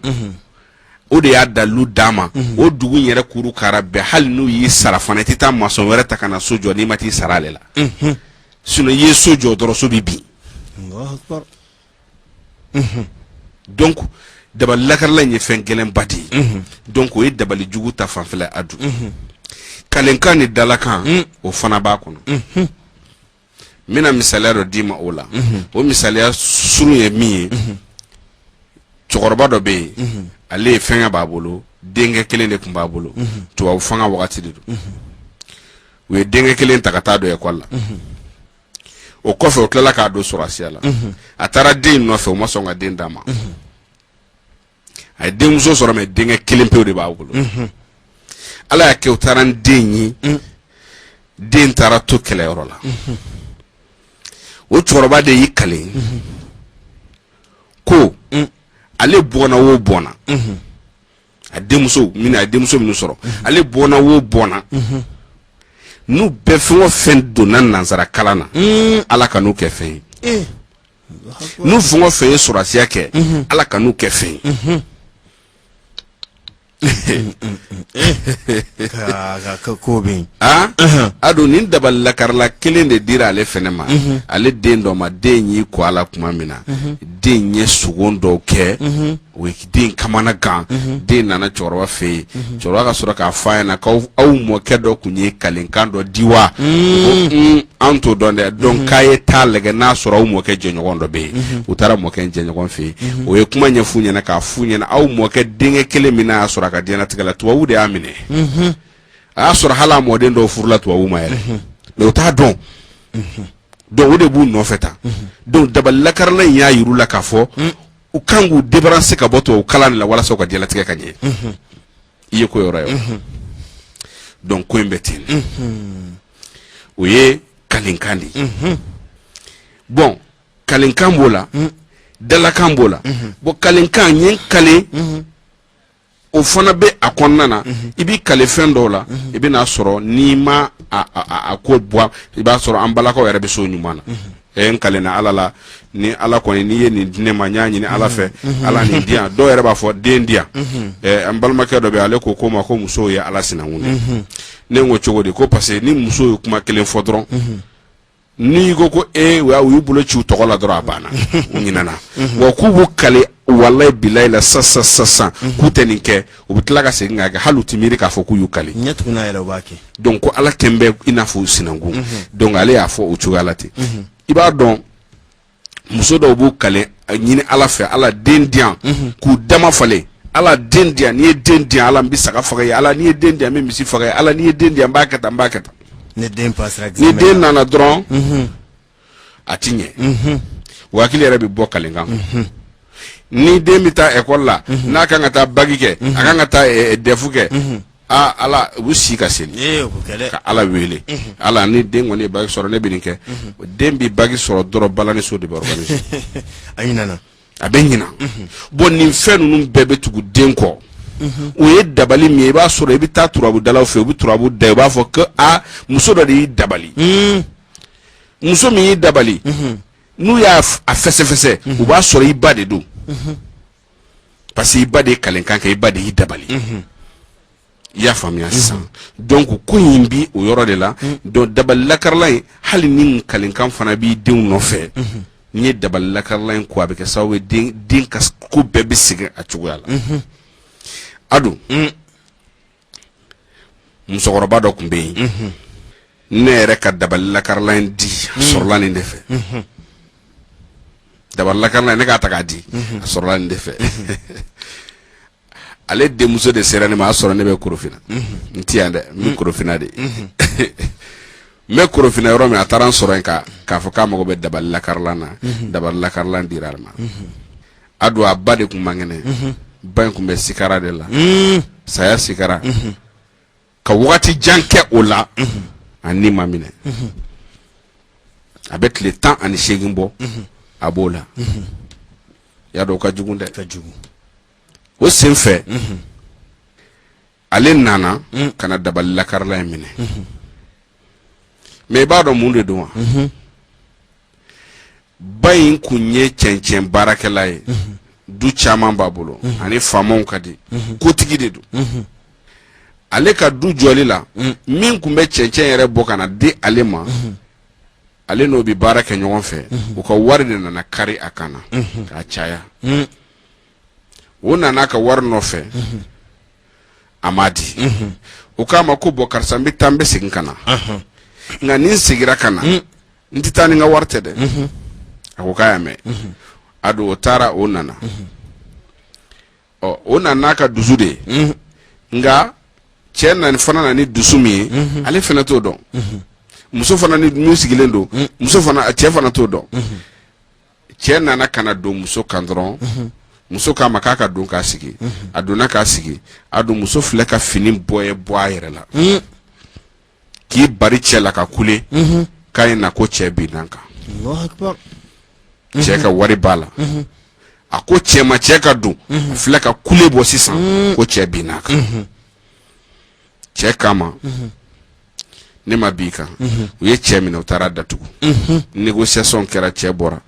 o de y'a dalilu d'a ma o dugu in yɛrɛ kuru kara bɛɛ hali n'u y'i sara fana i tɛ taa maçon wɛrɛ ta ka na so jɔ n'i ma t'i sara ale la sinon i ye so jɔ dɔrɔn so bɛ bin donc dabali lakarala in ye fɛn gɛlɛnba de ye donc o ye dabali jugu ta fanfɛla a dun kalenkan ni dalakan o fana b'a kɔnɔ n bɛna misaliya dɔ d'i ma o la o misaliya surun ye min ye cɛkɔrɔba dɔ bɛ yen ale ye fɛnkɛ b'a bolo denkɛ kelen de tun b'a bolo tubabu fanga wagati de don u ye denkɛ kelen ta ka taa don ekɔli la o kɔfɛ o tilala k'a don sɔrɔsiya la a taara den nɔfɛ o ma sɔn ka den d'a ma a ye denmuso sɔrɔ mais denkɛ kelen pewu de b'a bolo ala y'a kɛ o taara n den ye den taara to kɛlɛyɔrɔ la o cɛkɔrɔba de y'i kale ko ale bɔnna o bɔnna a denmuso min a denmuso min sɔrɔ ale bɔnna wo bɔnna n'u bɛɛ fɛn o fɛn donna nansara kalan na mm. ala kan'u kɛ fɛn ye eh. n'u fɛn o fɛn ye sɔrɔsiya kɛ mm-hmm. ala kan'u kɛ fɛn ye mm-hmm. ko bɛ a don nin dabali lakarala kelen de dira ale fɛnɛ ma ale den dɔ ma den y'i ko a la tuma min na den ye sugo dɔw kɛ O ye den kamana gan den nana cɛkɔrɔba fɛ yen cɛkɔrɔba ka sɔrɔ k'a f'a ɲɛna k'aw aw mɔkɛ dɔ tun ye kalenkan dɔ di wa an t'o dɔn dɛ donc k'a ye taa lajɛ n'a sɔrɔ aw mɔkɛ jɛɲɔgɔn dɔ bɛ yen u taara mɔkɛ in jɛɲɔgɔn fɛ yen o ye kuma ɲɛf'u ɲɛna k'a f'u ɲɛna aw mɔkɛ denkɛ kelen min y'a sɔrɔ a ka diɲɛlatigɛ la tubabu de y'a minɛ a y'a sɔrɔ hali mɔden dɔw furula tubabu ma yɛrɛ mais u t'a dɔn donc o de b'u nɔfɛ tan donc dabalilakarala in y'a jir'u la k'a fɔ u kan k'u débarrasser ka bɔ tubabu kalan la walasa u ka diɲɛlatigɛ ka ɲɛ i ye ko yɔrɔ ye donc ko in bɛ ten o ye kalenkan de ye bon kalenkan b'o la dalakan b'o la bon kalenkan ye kale o fana bɛ a kɔnɔna na mhm. i b'i kale fɛn dɔw la mhm. i bɛn'a sɔrɔ n'i ma a ko bɔ i b'a sɔrɔ an balakaw yɛrɛ bɛ so ɲuman na mhm. ɛ n kalenna ala la ni ala kɔni n'i ye nin di ne ma n y'a ɲini ala fɛ ala nin di yan dɔw yɛrɛ b'a fɔ den di yan ɛ an balimakɛ dɔ bɛ ale ko ko ma ko musow ye ala sinankun ye ne ko cogo di ko parce que ni muso ye kuma kelen fɔ dɔrɔn n'i ko ko e u y'u bolo ci u tɔgɔ la dɔrɔn a banna u ɲinɛna mhm. wa k'u b'u kale walayi bilayi la sisan mhm. k'u tɛ nin kɛ u bɛ tila ka segin k'a kɛ hali u tɛ miiri k'a fɔ k'u y'u kale ɲɛ tugunna yɛrɛ u b'a kɛ donc ko ala kɛn bɛ i n'a fɔ u sinankun mhm. donc ale y'a fɔ o cogoya la ten i b'a dɔn muso dɔw b'u kale ɲini ala fɛ ala den di yan k'u dama falen ala den di yan n'i ye den di yan ala n bɛ saga faga ye ala n'i ye den di yan n bɛ misi faga ye ala n'i ye den di yan n b'a kɛ tan n b'a kɛ tan ni den nana dɔrɔn mhm. a ti ɲɛ mhm. wa hakili yɛrɛ bɛ bɔ kalenkan mhm. ni den bɛ taa ekɔli la n'a kan ka taa baki kɛ a kan ka taa eh, eh, dɛfu kɛ aa ala u bɛ si ka seli ee o bɛ kɛ dɛ ka ala wele ala ni den kɔni ye baki sɔrɔ ne bɛ nin kɛ o den bɛ baki sɔrɔ dɔrɔn balaniso de bɛ organiser a ɲinana a bɛ ɲina bon nin fɛn ninnu bɛɛ bɛ tugu den kɔ o ye dabali min ye i b'a sɔrɔ i bɛ taa turabudalaw fɛ u bɛ turabu da i b'a fɔ ko a muso dɔ de y'i dabali muso min y'i dabali n'u y'a f- a fɛsɛfɛsɛ u b'a sɔrɔ i ba de don parce que i ba de ye kalenkan kɛ i ba de y'i dabali i y'a faamuya sisan donc ko in bi o yɔrɔ de la donc dabali lakarilan in hali ni kalenkan fana b'i denw nɔfɛ n'i ye dabali lakarilan in ko a bɛ kɛ sababu ye den ka ko bɛɛ bɛ segin a cogoya la a don musokɔrɔba dɔ tun bɛ yen ne yɛrɛ ka dabali lakarilan in di a sɔrɔla nin de fɛ dabali lakarilan ne k'a ta k'a di a sɔrɔla nin de fɛ ale denmuso de sera ne ma a sɔrɔ ne bɛ korofina n ti yan dɛ n bɛ korofina de n bɛ korofina yɔrɔ min a taara n sɔrɔ yen k'a fɔ k'a mago bɛ dabali lakarilan na dabali lakarilan dira ale ma a don a ba de tun man kɛnɛ ba in tun bɛ sikara de la saya sikara ka waati jan kɛ o la a ni ma minɛ a bɛ tile tan ani seegin bɔ a b'o la y'a dɔn o ka jugu dɛ ka jugu o sen fɛ ale nana mm. ka na dabali lakarilan in minɛ mm -hmm. mais i b'a dɔn mun de don wa mm -hmm. ba in kun ye cɛncɛn baarakɛla ye mm -hmm. du caman b'a bolo mm -hmm. ani faamaw ka di mm -hmm. kotigi de don mm -hmm. ale ka du jɔli la mm -hmm. min kun bɛ cɛncɛn yɛrɛ bɔ ka na di ale ma mm -hmm. ale n'o bɛ baara kɛ ɲɔgɔn fɛ mm -hmm. u ka wari de nana kari a kan na mm -hmm. k'a caya mm -hmm. o nana ka wari nɔfɛ a ma di o k'a ma ko bɔn karisa n bɛ taa n bɛ segin ka na nka ni n segira ka na n tɛ taa ni n ka wari tɛ dɛ a ko k'a y'a mɛn a don o taara o nana ɔ o nana n'a ka dusu de ye nka cɛ nana fana nana ni dusu min ye ale fana t'o dɔn muso fana ni min sigilen don muso fana cɛ fana t'o dɔn cɛ nana ka na don muso kan dɔrɔn muso k'a ma k'a ka don k'a sigi a donna k'a sigi a don muso filɛ ka fini bɔ ye bɔ a yɛrɛ la k'i bari cɛ la ka kule k'a ye na ko cɛ binn'a kan cɛ ka wari b'a la a ko cɛ ma cɛ ka don a filɛ ka kule bɔ sisan ko cɛ binn'a kan cɛ k'a ma ne ma bin i kan u ye cɛ minɛ u taara a datugu négociation kɛra cɛ bɔra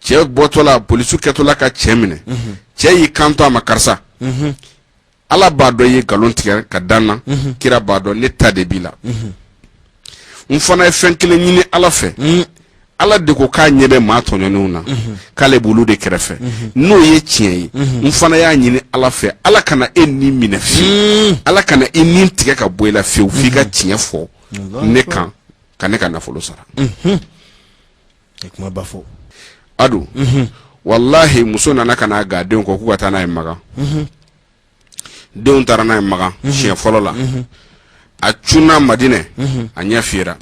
cɛ bɔtɔla polisiw kɛtɔla ka cɛ minɛ cɛ y'i kanto a ma karisa ala b'a dɔn i ye nkalon tigɛ ka da n na kira b'a dɔn ne ta de b'i la n fana ye fɛn kelen ɲini ala fɛ Ala de ko k'a ɲɛ bɛ maa tɔɲɔnenw na, unhun, k'ale b'olu de kɛrɛfɛ, unhun, n'o ye tiɲɛ ye, unhun, n fana y'a ɲini Ala fɛ Ala kana e ni minɛ fiyewu, Ala kana i ni tigɛ ka bɔ i la fiyewu f'i ka tiɲɛ fɔ ne kan ka ne ka nafolo sara, unhun, a ye kumaba fɔ, a don, unhun, walahi muso nana ka n'a g'a denw kɔ k'u ka taa n'a ye Makan, unhun. denw taara n'a ye makan siɲɛ fɔlɔ la a cunna madinɛ a ɲɛ fiyera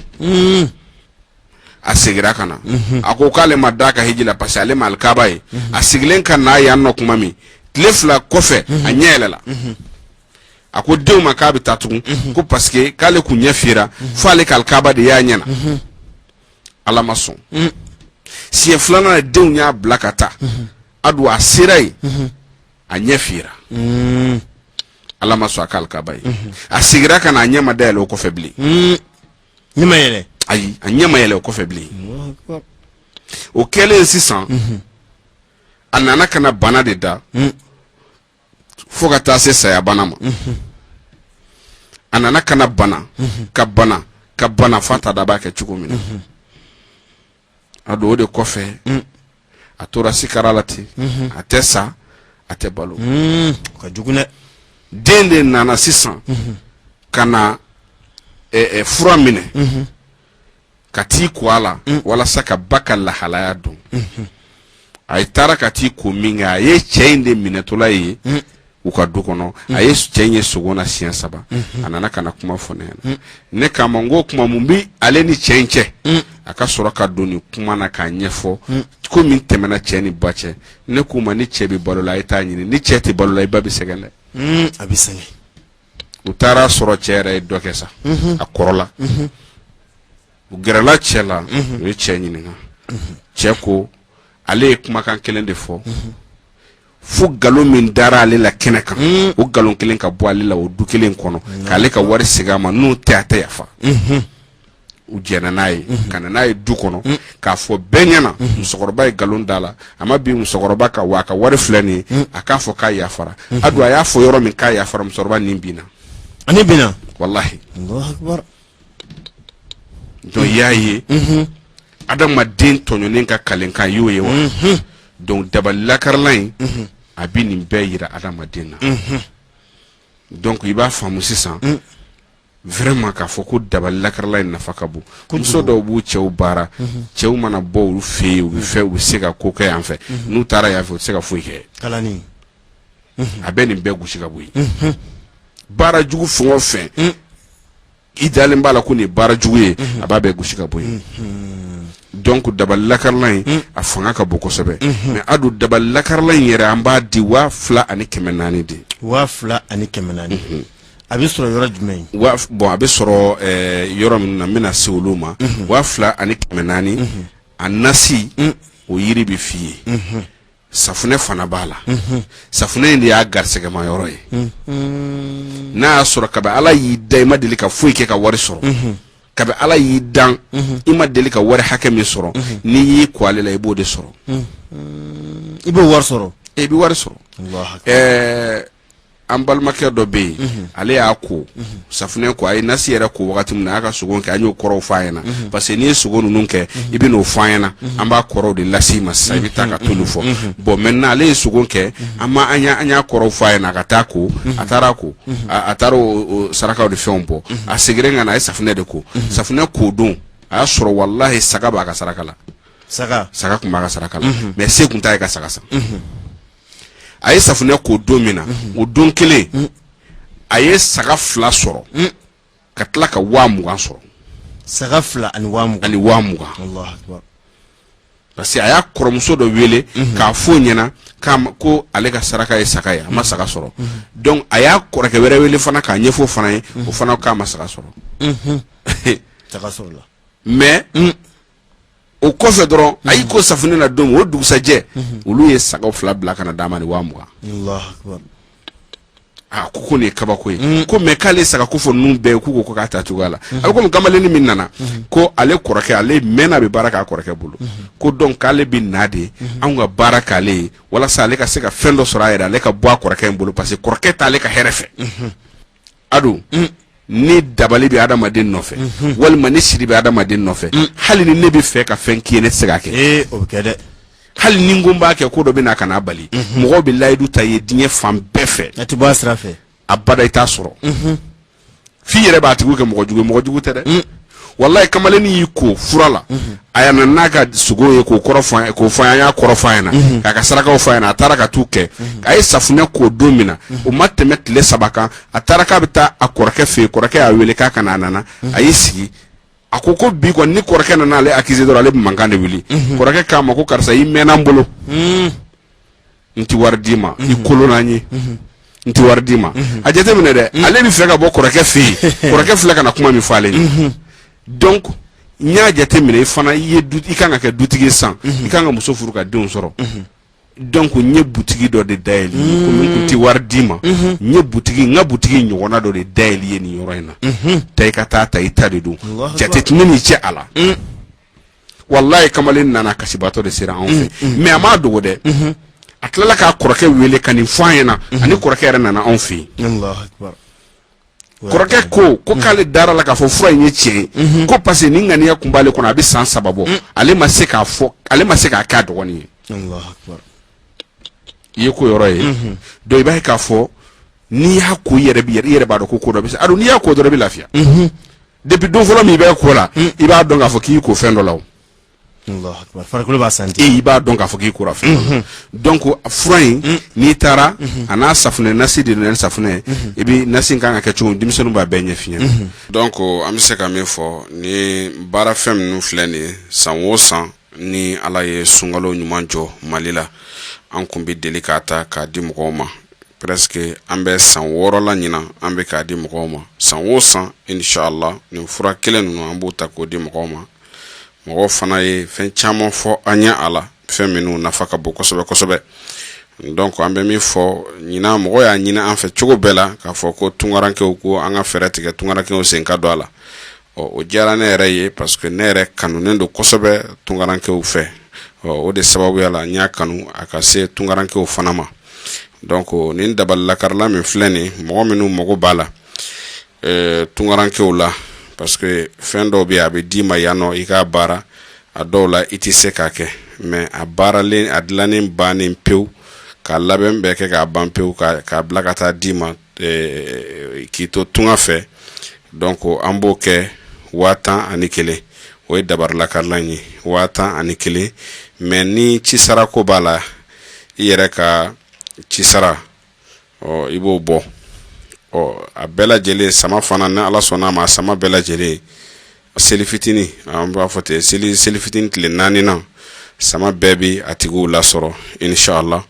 a segira ka na a ko k'ale ma da a ka hiji la parce que ale ma alikaba ye a segilen ka na yan nɔ kuma min tile fila kɔfɛ a ɲɛ yɛlɛla a ko denw ma k'a bɛ taa tugun ko parce que k'ale kun ɲɛ fiyera fo ale ka alikaba de y'a ɲɛ na ala ma sɔn siɲɛ filanan denw y'a bila ka taa a don a sera yen a ɲɛ fira ala ma sɔn a ka alikaba ye a segira ka na a ɲɛ ma dayɛlɛ o kɔfɛ bilen ɲɛ ma yɛlɛ ayi a ɲɛ ma yɛlɛ o kɔfɛ bilen o kɛlen sisan a nana ka na bana de da fo ka taa se sayabana ma a nana ka na bana ka bana ka bana f'a t'a dɔn a b'a kɛ cogo min na a don o de kɔfɛ a tora sikara la ten a tɛ sa a tɛ balo ka jugu dɛ den de nana sisan ka na fura minɛ ka t'i ko a la walasa ka ba ka lahalaya dɔn a ye taara ka t'i ko min kɛ a ye cɛ in de minɛtɔla ye u ka du kɔnɔ a ye cɛ in ye sogo na siɲɛ saba a nana ka na kuma fɔ ne ɲɛna ne k'a ma n ko kuma mun bi ale ni cɛ in cɛ a ka sɔrɔ ka don nin kuma na k'a ɲɛfɔ ko min tɛmɛna cɛ ni ba cɛ ne k'u ma ni cɛ bɛ balo la a ye t'a ɲini ni cɛ tɛ balo la i ba bɛ sɛgɛn dɛ Hmm, a bɛ sɛgɛn u taara sɔrɔ cɛ yɛrɛ ye dɔ kɛ sa a kɔrɔla u gɛrɛla cɛ la u ye cɛ ɲininka cɛ ko ale ye kumakan kelen de fɔ fo nkalon min dara ale la kɛnɛ kan o nkalon kelen ka bɔ ale la o du kelen kɔnɔ k'ale ka wari segin a ma n'o tɛ a tɛ yafa u jɛnna n'a ye ka na n'a ye du kɔnɔ k'a fɔ bɛɛ ɲɛna musokɔrɔba ye nkalon d'a la a ma bin musokɔrɔba kan wa a ka wari filɛ nin ye a k'a fɔ k'a yafara a don a y'a fɔ yɔrɔ min k'a yafara musokɔrɔba nin binna ani binna walahi Allahu Akbar. Donc i y'a ye adamaden tɔɲɔnen ka kalenkan y'o ye wa donc dabali lakarila in a bɛ nin bɛɛ yira adamaden na donc i b'a faamumu sisan vraiment k'a fɔ ko dabali lakarila in nafa ka bon muso dɔw b'u cɛw baara cɛw mana bɔ u fɛ yen u fɛ u bɛ se ka ko kɛ yan fɛ n'u taara yan fɛ u tɛ se ka foyi kɛ a bɛ nin bɛɛ gosi ka bɔ yen baara jugu fɛn o fɛn i dalen b'a la ko nin baara jugu ye a b'a bɛɛ gosi ka bɔ yen donc dabali lakarila in a fanga ka bon kosɛbɛ mais a don dabali lakarila in yɛrɛ an b'a di waa fila ani kɛmɛ naani de waa fila ani kɛmɛ naani a bɛ sɔrɔ yɔrɔ jumɛn bon a bɛ sɔrɔ yɔrɔ min na n bɛna se olu ma waa fila ani kɛmɛ naani a nasi o yiri bɛ f'i ye safunɛ fana b'a la safunɛ in de y'a garisɛgɛma yɔrɔ ye n'a y'a sɔrɔ kabi ala y'i dan i ma deli ka foyi kɛ ka wari sɔrɔ kabi ala y'i dan i ma deli ka wari hakɛ min sɔrɔ n'i y'i ko ale la i b'o de sɔrɔ i b'o wari sɔrɔ i bɛ wari sɔrɔ an balimakɛ dɔ bɛ yen mhm. ale y'a ko mhm. safunɛ ko a ye nasi yɛrɛ ko wagati min na a y'a ka sogo kɛ an y'o kɔrɔw f'a ɲɛna mhm. parce que n'i ye sogo ninnu kɛ i bɛ n'o f'an ɲɛna an b'a kɔrɔw de las'i ma sisan i bɛ taa ka t'olu fɔ bon maintenant ale ye sogo kɛ an ma an y'a kɔrɔw f'a ɲɛna a ka taa ko a taara ko a taara o sarakaw de fɛnw bɔ a seginna ka na a ye safunɛ de ko safunɛ ko don a y'a sɔrɔ walahi saga b'a ka saraka la saga saga tun b'a ka saraka la mais se tun t'a ye ka saga san a ye safunɛ ko don min na o don kelen a ye saga fila sɔrɔ ka tila ka waa mugan sɔrɔ saga fila ani waa mugan ani waa mugan Allahu akbar parce que a y'a kɔrɔmuso dɔ wele k'a fɔ o ɲɛna k'a ma- ko ale ka saraka ye saga ye a ma saga sɔrɔ donc a y'a kɔrɔkɛ wɛrɛ wele fana k'a ɲɛfɔ o fana ye o fana k'a ma saga sɔrɔ saga sɔrɔ la mais o kɔfɛ dɔrɔn a y'i ko safunɛ na don o dugusajɛ olu ye saga fila bila ka na d'a ma ni waa mugan a ko ko nin ye kabako ye mm. ko mais k'ale saga ko fɔ ninnu bɛɛ k'u ko k'a ta cogoya la mm-hmm. a bɛ komi kamalennin min nana mm-hmm. ko ale kɔrɔkɛ ale mɛnna bɛ baara k'a kɔrɔkɛ bolo mm-hmm. ko donc k'ale bɛ na de anw ka baara k'ale ye walasa ale ka se ka fɛn dɔ sɔrɔ a yɛrɛ ale ka bɔ a kɔrɔkɛ in bolo parce que kɔrɔkɛ t'ale ka hɛrɛ fɛ a dɔn ni dabali bɛ adamaden nɔfɛ walima ni siri bɛ adamaden nɔfɛ hali ni ne bɛ fɛ ka fɛn k'i ye ne tɛ se k'a kɛ ee o bɛ kɛ dɛ hali ni n ko n b'a kɛ ko dɔ bɛ na ka n'a bali mɔgɔw bɛ layidu ta i ye diɲɛ fan bɛɛ fɛ a tɛ bɔ a sira fɛ abada i t'a sɔrɔ f'i yɛrɛ b'a tigiw kɛ mɔgɔ jugu ye mɔgɔ jugu tɛ dɛ walayi kamalen y'i ko fura la mhm. a nana n'a ka sogo ye k'o fɔ an y'a kɔrɔ f'a ɲɛna mhm. k'a ka sarakaw f'a ɲɛna a taara ka t'u kɛ mhm. a ye safunɛ ko don min na o ma tɛmɛ tile saba kan a taara k'a bɛ taa a kɔrɔkɛ fɛ yen kɔrɔkɛ y'a wele k'a ka na a nana a y'i sigi a ko ko bi kɔni ni kɔrɔkɛ nana ale accuser dɔrɔn ale bɛ mankan de wuli kɔrɔkɛ k'a ma ko karisa i mɛnna n bolo. n tɛ wari d'i ma i kolola n ye n tɛ wari d'i ma a jate minɛ dɛ ale bɛ fɛ ka bɔ kɔrɔkɛ fɛ yen kɔrɔkɛ filɛ ka na kuma min fɔ ale ye donc n y'a jate minɛ i fana i ye du i kan ka kɛ dutigi ye san i kan ka muso furu ka denw sɔrɔ donc n ye butigi dɔ de dayɛlɛ i ye komi n tun tɛ wari d'i ma n ye butigi n ka butigi ɲɔgɔnna dɔ de dayɛlɛ i ye nin yɔrɔ in na taa i ka t'a ta i ta de don Allahu jate tɛ ne n'i cɛ a la walayi kamalen nana kasibaatɔ de sera anw fɛ mm, mm. mais a m'a dogo dɛ mm-hmm. a tilala k'a kɔrɔkɛ wele ka nin f'a ɲɛna mm-hmm. ani kɔrɔkɛ yɛrɛ nana anw fɛ yen kɔrɔkɛ ko ko mm-hmm. k'ale dara a la k'a fɔ fura in ye tiɲɛ ye ko parce que nin ŋaniya kun b'ale kɔnɔ a bɛ san saba bɔ mm. ale ma se k'a fɔ ale ma se k'a k'a dɔgɔnin ye i ye ko yɔrɔ ye donc i b'a ye k'a fɔ n'i y'a ko i yɛrɛ b'i yɛrɛ i yɛrɛ b'a dɔn ko ko dɔ bɛ sen na donc n'i y'a ko dɔrɔn i bɛ lafiya depuis don fɔlɔ min i bɛ ko la hmm. i b'a dɔn k'a fɔ k'i ko fɛn dɔ la farikolo b'a santi i b'a dɔn k'a fɔ k'i kora fɛn dɔ la hmm. donc fura in hmm. n'i taara a n'a safunɛ nasi de don safunɛ i bɛ nasi kan ka kɛ cogo min denmisɛnninw b'a bɛɛ ɲɛf'i ɲɛ donc an bɛ se ka min fɔ nin baara fɛn minnu filɛ nin ye san o san ni ala ye sunkalo ɲuman jɔ mali la an kun bɛ deli k'a ta k'a di mɔgɔw ma presque an bɛ san wɔɔrɔ la ɲinan an bɛ k'a di mɔgɔw ma san o san inshallah nin fura kelen ninnu an b'o ta k'o di mɔgɔw ma mɔgɔw fana ye fɛn caman fɔ an ɲɛ a la fɛn minnu nafa ka bon kosɛbɛ kosɛbɛ donc an bɛ min fɔ ɲinan mɔgɔw y'a ɲini an fɛ cogo bɛɛ la k'a fɔ ko tunkarankew ko an ka fɛɛrɛ tigɛ tunkarankew sen ka don a la ɔ o diyara ne yɛrɛ ye parce que ne yɛrɛ kanunen don kosɛbɛ tunkarankew fɛ ɔ o de sababuya la n y'a kanu a ka se tunkarankew fana ma donc nin dabali lakarila min filɛ nin mɔgɔ minnu mago b'a la euh, tunkarankew la parce que fɛn dɔw bɛ a bɛ d'i ma yan nɔ i k'a baara a dɔw la i tɛ se k'a kɛ mais a baaralen a dilannen bannen pewu k'a labɛn bɛɛ kɛ k'a ban pewu k'a bila ka taa d'i ma eh, k'i to tunga fɛ donc an b'o kɛ waa tan ani kelen o ye dabari lakarilan ye waa tan ani kelen mais ni cisara ko b'a la i yɛrɛ ka cisara ɔ i b'o bɔ ɔ a bɛɛ lajɛlen sama fana ni ala sɔnna a ma sama bɛɛ lajɛlen seli fitinin an b'a fɔ ten seli seli fitinin tile naaninan sama bɛɛ bɛ a tigiw lasɔrɔ inshallah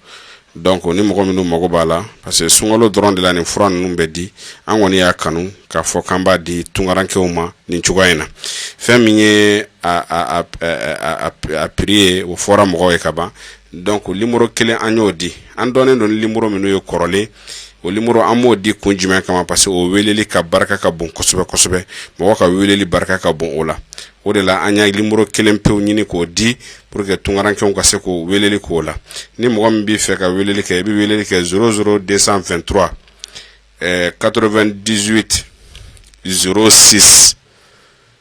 donc ni mɔgɔ minnu mago b'a la parce que sunkalo dɔrɔn de la nin fura ninnu bɛ di an kɔni y'a kanu k'a fɔ k'an b'a di tunkarankew ma nin cogoya in na fɛn min ye a prix ye o fɔra mɔgɔw ye ka ban donc numéro kelen an y'o di an dɔnnen don ni numéro minnu ye kɔrɔlen o numéro an m'o di kun jumɛn kama parce que o weleli ka barika ka bon kosɛbɛ kosɛbɛ mɔgɔ ka weleli barika ka bon o la o de la an y'a numéro kelen pewu ɲini k'o di pour que tunkarankew ka se k'o weleli k'o la ni mɔgɔ min b'i fɛ ka weleli kɛ i bɛ weleli kɛ zéro zéro deux cent vingt-trois ɛɛ quatre-vingt-dix-huit zéro six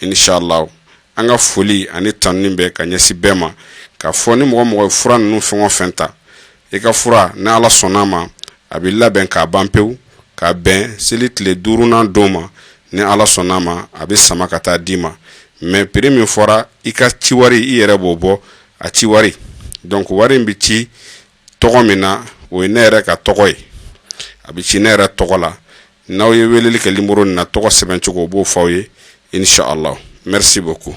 inshallah an ka foli ani tanuni bɛ ka ɲɛsin bɛɛ ma k'a fɔ ni mɔgɔ mɔgɔ fura ninnu fɛn o fɛn ta i ka fura ni ala sɔnna a ma a bɛ labɛn k'a ban pewu ka bɛn seli tile duurunnan don ma ni ala sɔnna a ma a bɛ sama ka taa d'i ma mais prix min fɔra i ka ci wari i yɛrɛ b'o bɔ a ci wari donc wari in bɛ ci tɔgɔ min na o ye ne yɛrɛ ka tɔgɔ ye a bɛ ci ne yɛrɛ tɔgɔ la n'aw ye weleli kɛ numéro nin na tɔgɔ sɛbɛn cogo o b'o fɔ aw ye inshallah merci beaucoup